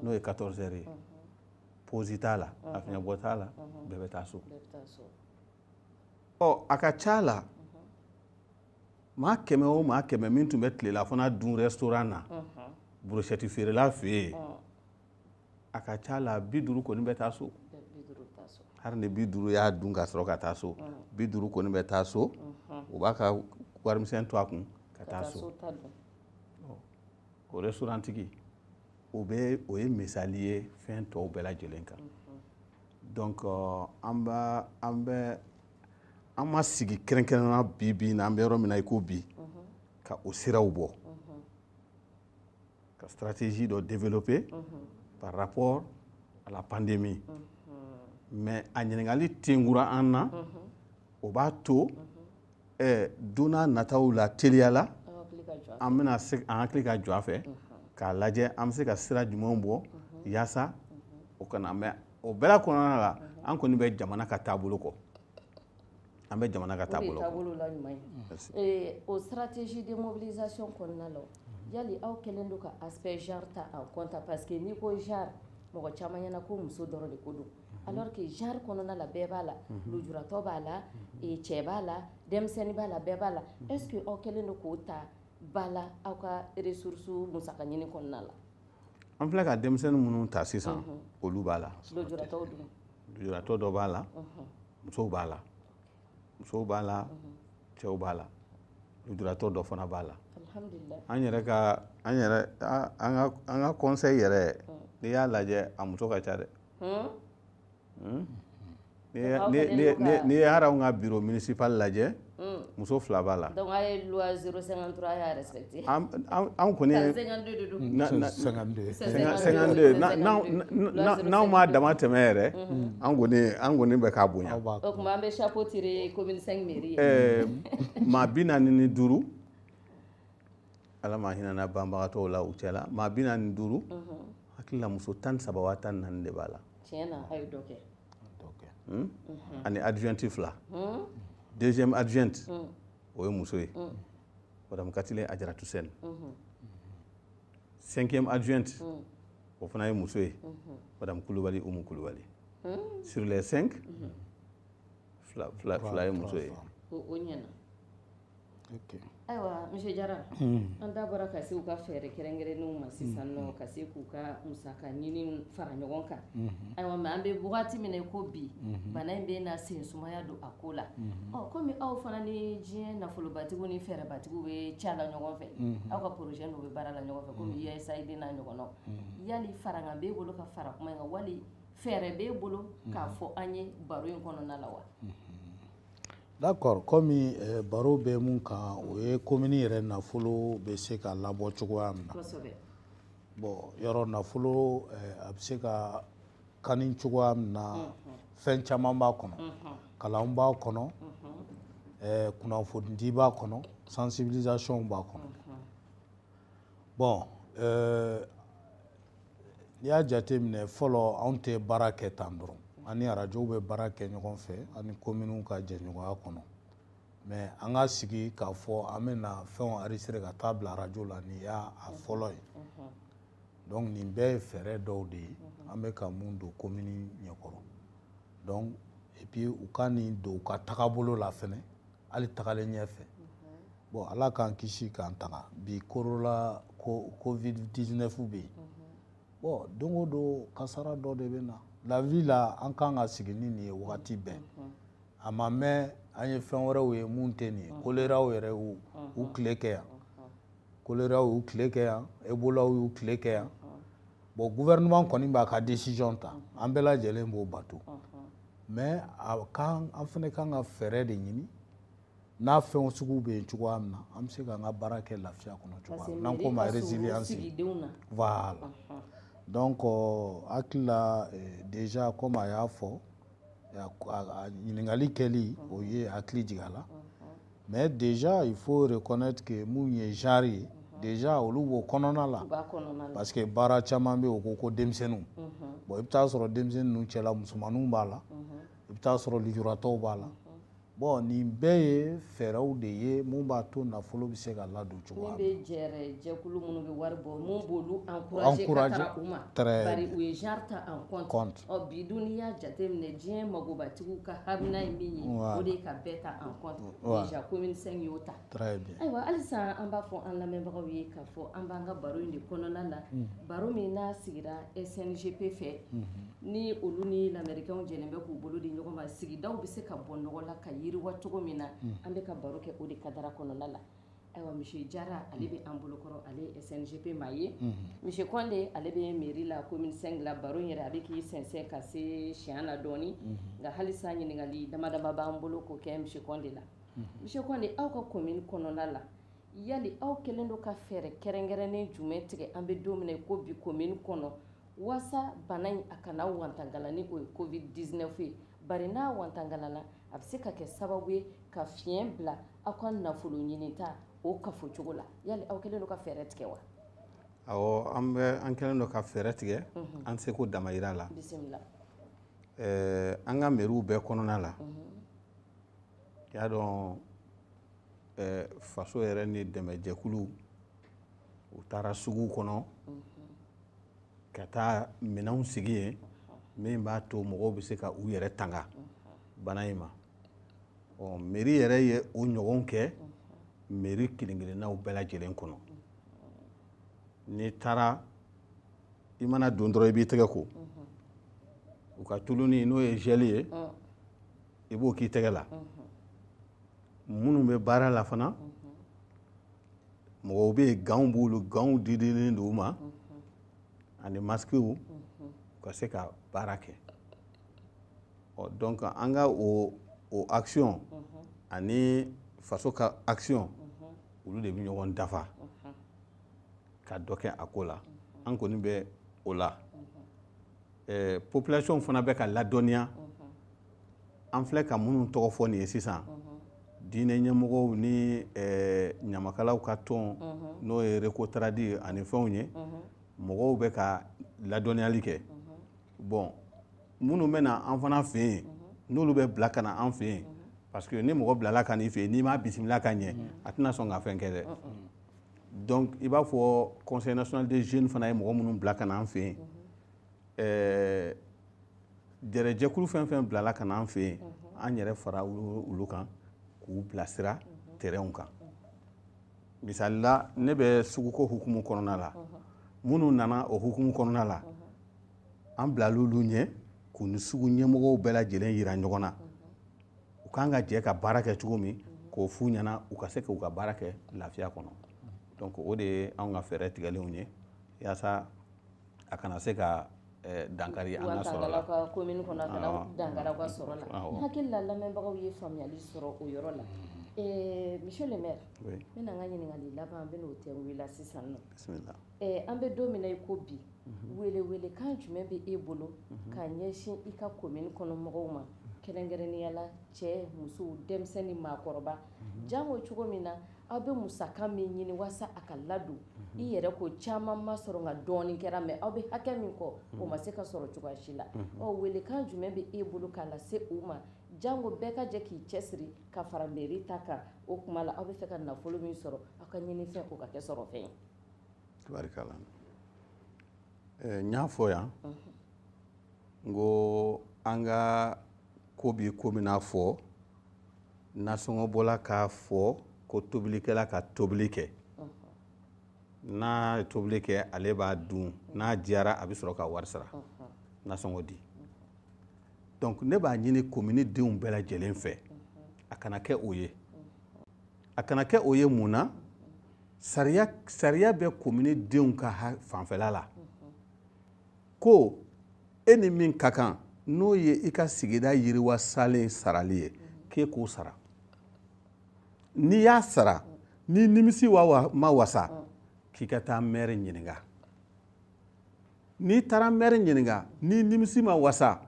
n'o ye 14 heures ye pause t'a la a fiɲɛbɔ t'a la bɛɛ bɛ taa so ɔ a ka ca la maa kɛmɛ o maa kɛmɛ min tun bɛ tilelafana dun restaurant na brochette feerela fɛ yen a ka ca la bi duuru kɔni bɛ taa so hari ni bi duuru y'a dun ka sɔrɔ ka taa so bi duuru kɔni bɛ taa so o b'a ka warimisɛn to a kun ka taa so o restaurantigi o bɛ o ye misali ye fɛn tɔw bɛɛ lajɛlen kan donc an b'a an bɛ an ma sigi kɛrɛnkɛrɛnna bi bi na an bɛ yɔrɔ min na i ko bi ka o siraw bɔ ka stratégie dɔ développer par rapport à la pandémie mais a ɲininkali tenkura an na o b'a to eh, don nataw la teliya la an bɛna se an hakili ka jɔ a fɛ k'a lajɛ an bɛ se ka sira jumɛnw bɔ yaasa o kana mɛ o bɛɛ kɔnɔna la an kɔni bɛ jamana ka taabolo kɔ an bɛ jamana ka taabolo eh, o stratégie de mobilisation kɔnɔna la yali aw kɛlen don ka aspect genre ta en compte parce que n'i ko genre mɔgɔ caman ɲɛna ko muso dɔrɔn de ko don mhm. alors que genre kɔnɔna la bɛɛ b'a la mhm. lujuratɔ b'a la mhm. eh, cɛ b'a la denmisɛnnin b'a la bɛɛ b'a la est ce que aw kɛlen don k'o ta ba la aw ka ressource musaka ɲini kɔnɔna la an filɛ ka denmisɛnnin minnu ta sisan mhm. olu b'a la lujuratɔ dɔ b'a la mhm. musow b'a la musow b'a la mhm. cɛw b'a la lujuratɔ dɔ fana b'a la an yɛrɛ ka an yɛrɛ an ka conseil yɛrɛ n'i y'a lajɛ a muso ka ca dɛ hmm? n'i ye hali anw ka biro municipal lajɛ hmm. muso fila b'a la donc a ye loi 053 y'a respecté anw kɔni ye 52 n'anw m'a damatɛmɛ yɛrɛ hmm. an kɔni an kɔni bɛ k'a bonya o tuma an bɛ chapeau tirer commune 5 mairie ye maa bi naani ni duuru Ala ma hinɛna banbagatɔw la u cɛla maa bi naani ni duuru hakilila muso tan ni saba wa tan ni naani de b'a la hmm? hmm. ani adjoint fila hmm. deuxième adjoint o ye muso ye madame Katilé Adiaratou Sène cinquième adjoint o fana ye muso ye madame kulubali umu kulubali sur les cinq fila ye muso ye Ayiwa monsieur jara an da bɔra ka se u ka fɛɛrɛ kɛrɛnkɛrɛnnenw ma sisan nɔ ka se k'u ka musaka ɲini fara ɲɔgɔn kan ayiwa mais an bɛ wagati min na i ko bi bana in bɛna sensumaya don a ko la ɔ kɔmi aw fana ni diɲɛ nafolobatigiw ni fɛɛrɛbatigiw bɛ ca la ɲɔgɔn fɛ aw ka projet dɔw bɛ baara la ɲɔgɔn fɛ kɔmi USAID ɲɔgɔn yali fara bɛ e bolo ka fara kuma kan wali fɛɛrɛ bɛ e bolo k'a fɔ an ye baro in kɔnɔna la wa D'accord komi eh, baro bɛ mun kan o ye komini yɛrɛ nafolo bɛ se ka labɔ cogoya min na bon yɔrɔ nafolo eh, a bɛ se ka kani cogoya min na mhm. fɛn caman b'a kɔnɔ mhm. kalan b'a kɔnɔ mhm. eh, kunnafonidi b'a kɔnɔ sensibilisation b'a kɔnɔ bon euh, n'i y'a jate minɛ fɔlɔ anw tɛ baara kɛ tan dɔrɔn an ni arajow bɛ baara kɛ ɲɔgɔn fɛ an ni kominiw ka jɛɲɔgɔnya kɔnɔ mais an ka sigi k'a fɔ an bɛ na fɛnw enregistrer ka taa bila arajo la nin y'a fɔlɔ ye donc nin bɛɛ ye fɛɛrɛ dɔw de ye an bɛ ka mun don komini ɲɛkɔrɔ donc et puis u ka nin don u ka tagabolo la fɛnɛ hali tagalen ɲɛfɛ bon ala k'an kisi k'an tanga bi korola ko covid 19 bɛ yen bon don o don kasara dɔ de bɛ na la vie la an kan ka sigi ni nin ye wagati bɛɛ a ma mɛn an ye fɛn wɛrɛw ye mun tɛ nin ye koleraw yɛrɛ y'u tile kɛ yan koleraw y'u tile kɛ yan ebolaw y'u tile kɛ yan bon gouvernement kɔni b'a ka décision ta an bɛɛ lajɛlen b'o bato mais a kan an fana kan ka fɛɛrɛ de ɲini n'a fɛn suguw bɛ yen cogoya min na an bɛ se k'an ka baara kɛ lafiya kɔnɔ cogoya min na n'an k'o ma résilience voilà donc n hakili la eh, déjà comme a y'a fɔ a ɲininkali kɛli o ye hakili jigin a la. mais déjà il faut reconnaître que mun ye genre ye mhm. déjà olu b'o kɔnɔna la parce que baara caman bɛ o ko ko denmisɛnninw mhm. bon i bɛ taa sɔrɔ denmisɛnnin ninnu cɛla musomaninw b'a la mhm. i bɛ taa sɔrɔ lujuratɔw b'a la bon nin bɛɛ ye fɛɛrɛw de ye mun b'a to nafolo bɛ se ka ladon Cogoya bɛ jɛkulu minnu bɛ wari bɔ minnu b' an u ye ta bidon y'a jate minɛ diɲɛ magobatigiw ka ha in min ye o de ka bɛɛ ta an kɔmi y'o ta ayiwa hali an b'a fɔ an lamɛnbagaw ye k'a fɔ an b'an ka baro in de kɔnɔna na baro min n'a sigira SNGP fɛ ni olu ni lamerikɛnw jɛ bɛ k'u bolo di ɲɔgɔn ma sigida bɛ se ka bɔ nɔgɔ la ka yiriwa cogo min na an bɛ ka baro kɛ o de ka kɔnɔna la Ayiwa monsieur Jara ale bɛ an bolo kɔrɔ ale ye SNGP maa ye, unhun, monsieur Kɔnde ale bɛ mairie la commune V la baro in yɛrɛ a bɛ k'i sɛnsɛn ka se siɲɛ la dɔɔnin, unhun, nka halisa ɲininkali dama dama b'an bolo k'o kɛ monsieur Kɔnde la, unhun, monsieur Kɔnde aw ka commune kɔnɔna la yali aw kɛlen don ka fɛɛrɛ kɛrɛnkɛrɛnnen jumɛn tigɛ an bɛ don min na i ko bi commune kɔnɔ Wasa bana in a kana wantangala ni o ye covid 19 ye bari n'a wantangalala a bɛ se ka kɛ sababu ye ka fiɲɛ bila aw ka nafolo ɲininta o kafo cogo la yali aw kɛlen don ka fɛɛrɛ tigɛ wa awɔ an bɛ an kɛlen don ka fɛɛrɛ tigɛ mhm. an seko damayira la bi sa eh, an ka meriw bɛɛ kɔnɔna la mhm. y'a dɔn eh, faso yɛrɛ ni dɛmɛjɛkulu u taara sugu kɔnɔ ka taa minɛnw sigi yen min b'a to mɔgɔw bɛ se ka u yɛrɛ tanga bana in ma ɔ mɛri yɛrɛ ye o ɲɔgɔn kɛ mɛri kelen-kelennaw bɛɛ lajɛlen kɔnɔ n'i taara i mana don dɔrɔn i b'i tɛgɛ ko u ka tuluni n'o ye zɛli ye i b'o k'i tɛgɛ la minnu bɛ baara la fana mɔgɔw bɛ yen ganw b'olu ganw didilen don u ma ani masikiw u ka se ka baara kɛ ɔ donc an ka o o action ani faso ka action olu de bɛ ɲɔgɔn dafa ka dɔ kɛ a ko la an kɔni bɛ o la population fana bɛ ka ladɔnniya. an filɛ ka minnu tɔgɔ fɔ nin ye sisan diinɛ ɲɛmɔgɔw ni ɲamakalaw ka tɔn n'o ye rekotaradi ani fɛnw ye mɔgɔw bɛ ka ladɔnniyali kɛ bon minnu bɛ na an fana fɛ yen n'olu bɛ bila ka na an fɛ yen parce que ni mɔgɔ bilala ka n'i fɛ yen n'i m'a bisimila ka ɲɛ a tɛna sɔn ka fɛn kɛ dɛ donc i b'a fɔ conseil national des jeunes fana ye mɔgɔ minnu bila ka na an fɛ yen ɛɛ jɛrɛjɛkulu fɛn fɛn bilala ka n'an fɛ yen an yɛrɛ fara olu kan k'u bilasira terɛnw kan misali la ne bɛ suguko hukumu kɔnɔna la minnu nana o hukumu kɔnɔna la an bilala olu ɲɛ k'u ni sugu ɲɛmɔgɔw bɛɛ lajɛlen yira ɲɔgɔn na u kan ka jɛ ka baara kɛ cogo min k'o f'u ɲɛna u ka se k'u ka baara kɛ lafiya kɔnɔ donc o de ye anw ka fɛɛrɛ tigɛlenw ye yaasa a kana se ka eh, dankari an ka sɔrɔ la ka komini kɔnɔ a kana ah. dankari aw ka sɔrɔ la n hakili la lamɛnbagaw ye faamuyali sɔrɔ o yɔrɔ la eh, monsieur le maire n bɛna n ka ɲininkali laban n bɛna o tɛ wele sisan nɔ eh, an bɛ don min na i ko bi mhm. welewelekan jumɛn bɛ e bolo mhm. ka ɲɛsin i ka komini kɔnɔ mɔgɔw ma mhm. kɛrɛnkɛrɛnnenya la cɛ musow denmisɛnnin maakɔrɔba janko cogo min na aw bɛ musaka min ɲini waasa a ka ladon i yɛrɛ ko caman ma sɔrɔ nka dɔɔnin kɛra mais aw bɛ hakɛ min kɔ o ma se ka sɔrɔ cogoya si la ɔ welekan jumɛn bɛ e bolo k'a lase se u ma janko bɛɛ ka jɛ k'i cɛsiri ka fara mɛri ta kan o tuma la aw bɛ fɛ ka nafolo min sɔrɔ aw ka ɲinifɛn o ka kɛ sɔrɔfɛn ye n y'a fɔ yan n ko an ka ko bɛ komi n'a fɔ nasɔngɔ bɔla k'a fɔ ko tobilikɛla ka tobili kɛ n'a ye tobili kɛ ale b'a dun n'a diyara a bɛ sɔrɔ ka wari sara nasɔngɔ di donc ne b'a ɲini komini denw bɛɛ lajɛlen fɛ a kana kɛ o ye a kana kɛ o ye mun na sariya sariya bɛ komini denw ka fanfɛla la ko e ni min ka kan n'o ye i ka sigida yiriwa salen sarali ye k'e k'o sara n'i y'a sara n'i nimisi ma wasa k'i ka taa mɛri ɲininka n'i taara mɛri ɲininka n'i nimisi ma wasa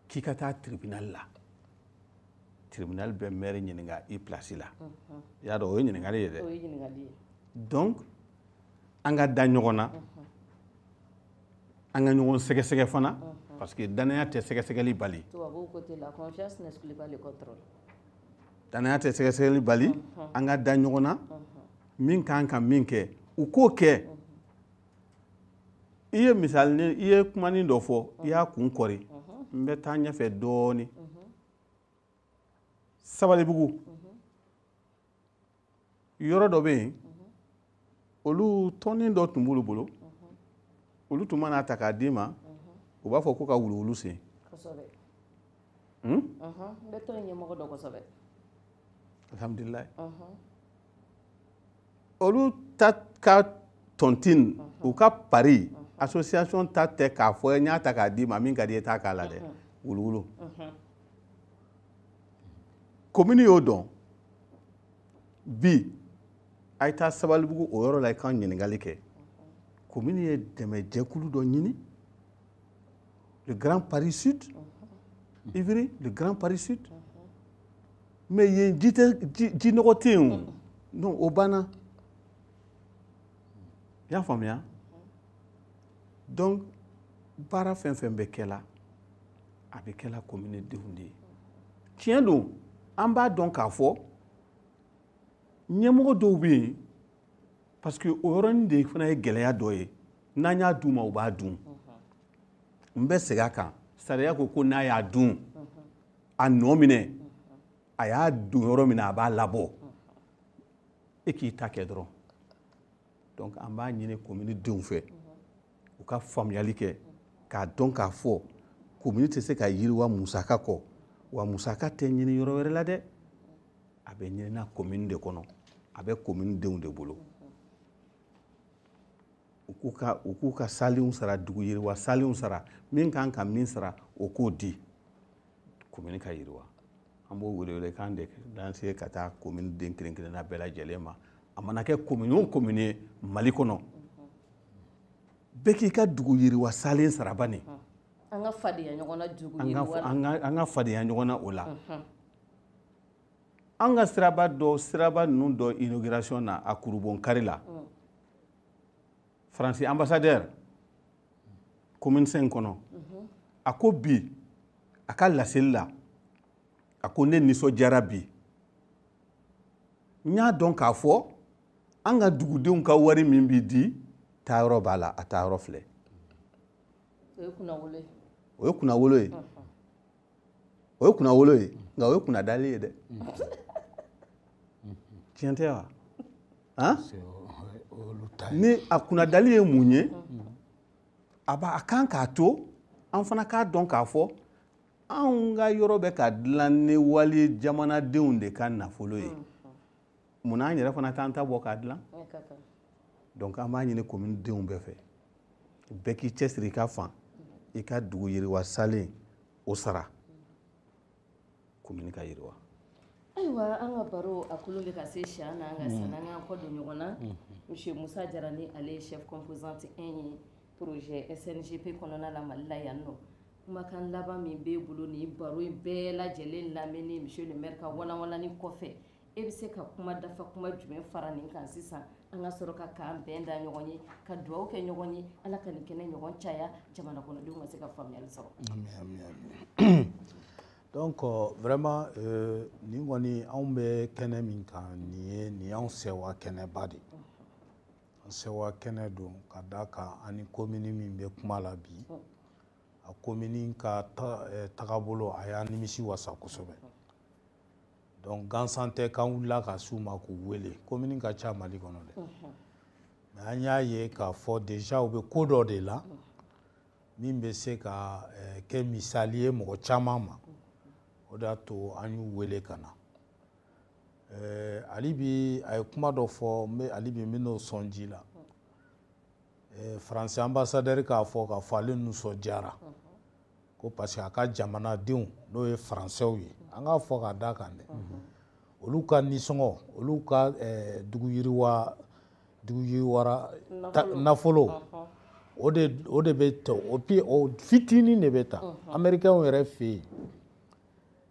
k'i ka taa tribinali la tribinali bɛ mɛri ɲininka i pilasi la i y'a dɔn o ye ɲininkali ye dɛ donc an ka da ɲɔgɔn na an ka ɲɔgɔn sɛgɛsɛgɛ fana parce que danaya tɛ sɛgɛsɛgɛli bali danaya tɛ sɛgɛsɛgɛli bali an ka da ɲɔgɔn na min ka kan ka min kɛ u k'o kɛ i ye misali i ye kumanin dɔ fɔ i y'a kun kɔri n bɛ taa ɲɛfɛ dɔɔnin sabalibugu yɔrɔ dɔ bɛ yen olu tɔnin dɔ tun b'olu bolo olu tun man'a ta k'a d'i ma u b'a fɔ ko ka wuluwulu sen hmm? alhamdulilayi olu ta ka tɔntin u ka pari association ta tɛ k'a fɔ n y'a ta k'a d'i ma min ka d'i ye taa k'a la dɛ wuluwulu komini y'o dɔn bi a ye taa sabalibugu o yɔrɔ la i ka ɲininkali kɛ komini ye dɛmɛjɛkulu dɔ ɲini le grand paris sud évry le grand paris sud mais yen ji tɛ ji nɔgɔ tɛ yen o non o banna i y'a faamuya donc baara fɛn fɛn bɛ kɛ la a bɛ kɛla komini denw de ye tiɲɛ don an b'a dɔn k'a fɔ ɲɛmɔgɔ dɔw bɛ yen parce que o yɔrɔnin de fana ye gɛlɛya dɔ ye n'an y'a d'u ma u b'a dun n bɛ segin a kan sariya ko ko n'a y'a dun a nɔ minɛ a y'a don yɔrɔ min na a b'a labɔ e k'i ta kɛ dɔrɔn donc an b'a ɲini komini denw fɛ u ka faamuyali kɛ k'a dɔn k'a fɔ komini tɛ se ka yiriwa musaka kɔ wa musaka tɛ ɲini yɔrɔ wɛrɛ la dɛ a bɛ ɲinina komini de kɔnɔ a bɛ komini denw de bolo u k'u ka u k'u ka salenw sara dugu yiriwa salenw sara min kan ka min sara o k'o di komini ka yiriwa an b'o welewelekan de lancer ka taa komini den kelen kelenna bɛɛ lajɛlen ma a mana kɛ komini o komini ye mali kɔnɔ bɛɛ k'i ka dugu yiriwa salen sara bani an ka fadenya ɲɔgɔn na dugu yiriwa an ka fadenya ɲɔgɔn na o la an ka siraba dɔ siraba ninnu dɔ inauguration na a kurubonkari la faransi ambassadeur commune 5 kɔnɔ a ko bi a ka laseli la a ko ne nisɔndiyara bi n y'a dɔn k'a fɔ an ka dugudenw ka wari min bɛ di taayɔrɔ b'a la a taayɔrɔ filɛ o ye kunnawolo ye o ye kunnawolo ye nka o ye kunnadali ye dɛ tiɲɛ tɛ wa han ni a kunnadali ye mun ye a b'a a kan k'a to an fana k'a dɔn k'a fɔ anw ka yɔrɔ bɛ ka dilan ni walijamanadenw de ka nafolo ye. Mm. munna an yɛrɛ fana t'an ta bɔ k'a dilan donc an b'a ɲini commune denw bɛɛ fɛ bɛɛ k'i cɛsiri i ka fan i ka dugu yiriwa salen o sara commune ka yiriwa ayiwa an ka baro a kolo bɛ ka se siya na an ka sanni an k'an kɔ don ɲɔgɔn na monsieur musa jara ni ale ye chef composante 1 ye projet sngp kɔnɔna la mali la yan nɔ kumakan laban min b'e bolo nin baro in bɛɛ lajɛlen lamɛnni monsieur le maire ka walanwalanni kɔfɛ e bɛ se ka kuma dafa kuma jumɛn fara nin kan sisan an ka sɔrɔ ka k'an bɛn da ɲɔgɔn ye ka dugawu kɛ ɲɔgɔn ye ala ka nin kɛnɛ ɲɔgɔn caya jamana kɔnɔdenw ka se ka faamuyali sɔrɔ donc euh, vraiment euh, nin kɔni anw bɛ kɛnɛ min kan nin ye nin y'anw sɛwa kɛnɛba de an sɛwa kɛnɛ don ka da kan an ni komini min bɛ kuma la bi a komini ka ta, eh, tagabolo a y'an nimisiwasa kosɛbɛ donc gansan tɛ k'an wulila ka s'u ma k'u wele komini ka ca mali kɔnɔ dɛ mais an y'a ye k'a fɔ déjà u bɛ ko dɔ de la min bɛ se ka eh, kɛ misali ye mɔgɔ caman ma o de y'a to an y'u wele ka na eh, hali bi a ye kuma dɔ fɔ n bɛ hali bi n bɛ n'o sɔn ji la eh, faransi anbasadɛri k'a fɔ k'a fɔ ale nisɔndiyara ko parce que a ka jamanadenw n'o ye faransɛw ye an k'a fɔ k'a da kan dɛ olu ka nisɔngɔ olu ka eh, dugu yiriwa dugu yiriwara nafolo o de o de bɛ ta o pi o fitinin de bɛ ta amerikɛnw yɛrɛ fɛ yen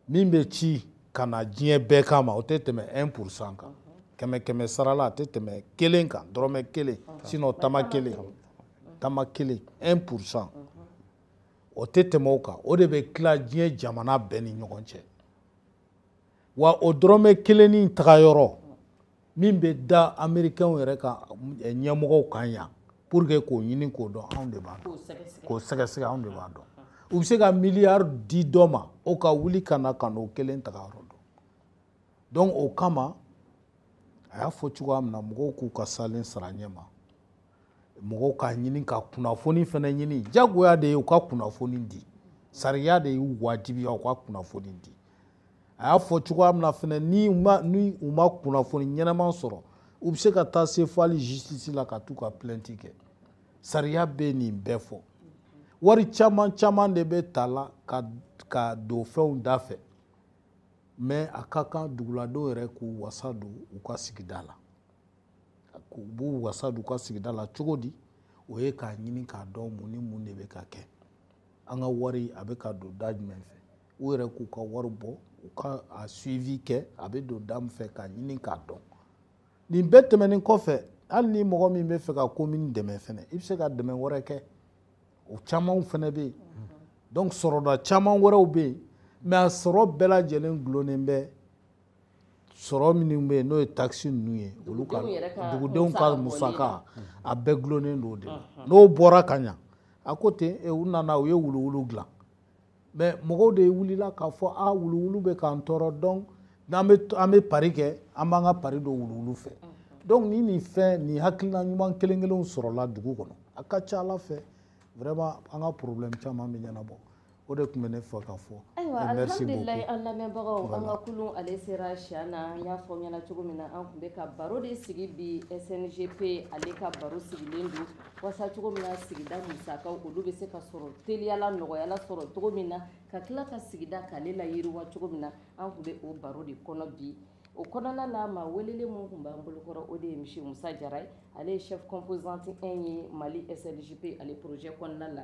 min bɛ ci ka na diɲɛ bɛɛ kama o tɛ tɛmɛ 1 pourcent kan kɛmɛ kɛmɛ sarala a tɛ tɛmɛ kelen kan dɔrɔmɛ kelen sinɔn tama kelen tama kelen 1 pourcent o tɛ tɛmɛ o kan o de bɛ tila diɲɛ jamana bɛɛ ni ɲɔgɔn cɛ wa o dɔrɔmɛ kelennin tagayɔrɔ min bɛ da amerikɛnw yɛrɛ ka eh, ɲɛmɔgɔw kan yan pour que k'o ɲini k'o dɔn anw de b'a dɔn k'o sɛgɛsɛgɛ anw de b'a dɔn u bɛ se ka miliyari di dɔ ma o ka wuli ka na ka n'o kelen tagayɔrɔ dɔn donc o kama a y'a fɔ cogoya min na mɔgɔw k'u ka salen sara ɲɛ ma mɔgɔw ka ɲini ka kunnafoni fana ɲini jagoya de ye u ka kunnafoni di sariya de y'u wajibiya u ka kunnafoni di a y'a fɔ cogoya min na fana ni u ma ni u ma kunnafoni ɲɛnama sɔrɔ u bɛ se ka taa se fo hali justice la ka t'u ka plainte kɛ sariya bɛ nin bɛɛ fɔ wari caman caman de bɛ ta la ka ka don fɛnw da fɛ mɛ a ka kan duguladenw yɛrɛ k'u wasa don u ka sigida la u b'u wasa d'u ka sigida la cogo di o ye k'a ɲini k'a dɔn mun ni mun de bɛ ka kɛ an ka wari a bɛ ka don da jumɛn fɛ u yɛrɛ k'u ka wari bɔ u k'a suivi kɛ a bɛ don da min fɛ k'a ɲini k'a dɔn nin bɛɛ tɛmɛnen kɔfɛ hali ni mɔgɔ min bɛ fɛ ka komini dɛmɛ fɛnɛ i bɛ se ka dɛmɛ wɛrɛ kɛ o camanw fɛnɛ bɛ yen donc sɔrɔda caman wɛrɛw bɛ yen mɛ a sɔrɔ bɛɛ lajɛlen gulonnen bɛ sɔrɔ minnu bɛ yen n'o ye takisi ninnu ye olu ka dugudenw ka musaka a bɛɛ gulonnen don o de la n'o bɔra ka ɲa à côté eh, u nana u ye wuluwulu dilan mɛ mɔgɔw de wulila k'a fɔ a wuluwulu bɛ k'an tɔɔrɔ donc n'an bɛ an bɛ pari kɛ an b'an ka pari don wuluwulu fɛ donc ni nin fɛn nin hakilina ɲuman kelen kelenw sɔrɔla dugu kɔnɔ a ka ca a la fɛ vraiment an ka problème caman bɛ ɲɛnabɔ o de tun bɛ ne fɛ ka fɔ ayiwa alhamdulilayi an lamɛnbagaw an ka kulun ale sera siya na n y'a fɔ ɲɛna cogo min na an tun bɛ ka baro de sigi bi sngp ale ka baro sigilen don wasa cogo min na sigida musakaw olu bɛ se ka sɔrɔ teliya la nɔgɔya la sɔrɔ cogo min na ka tila ka sigida k'ale layiriwa cogo min na an tun bɛ o baro de kɔnɔ bi o kɔnɔna la maa welelen minnu tun b'an bolokɔrɔ o de ye monsieur musa jara ye ale ye chef composante 1 ye mali sngp ale projet kɔnɔna la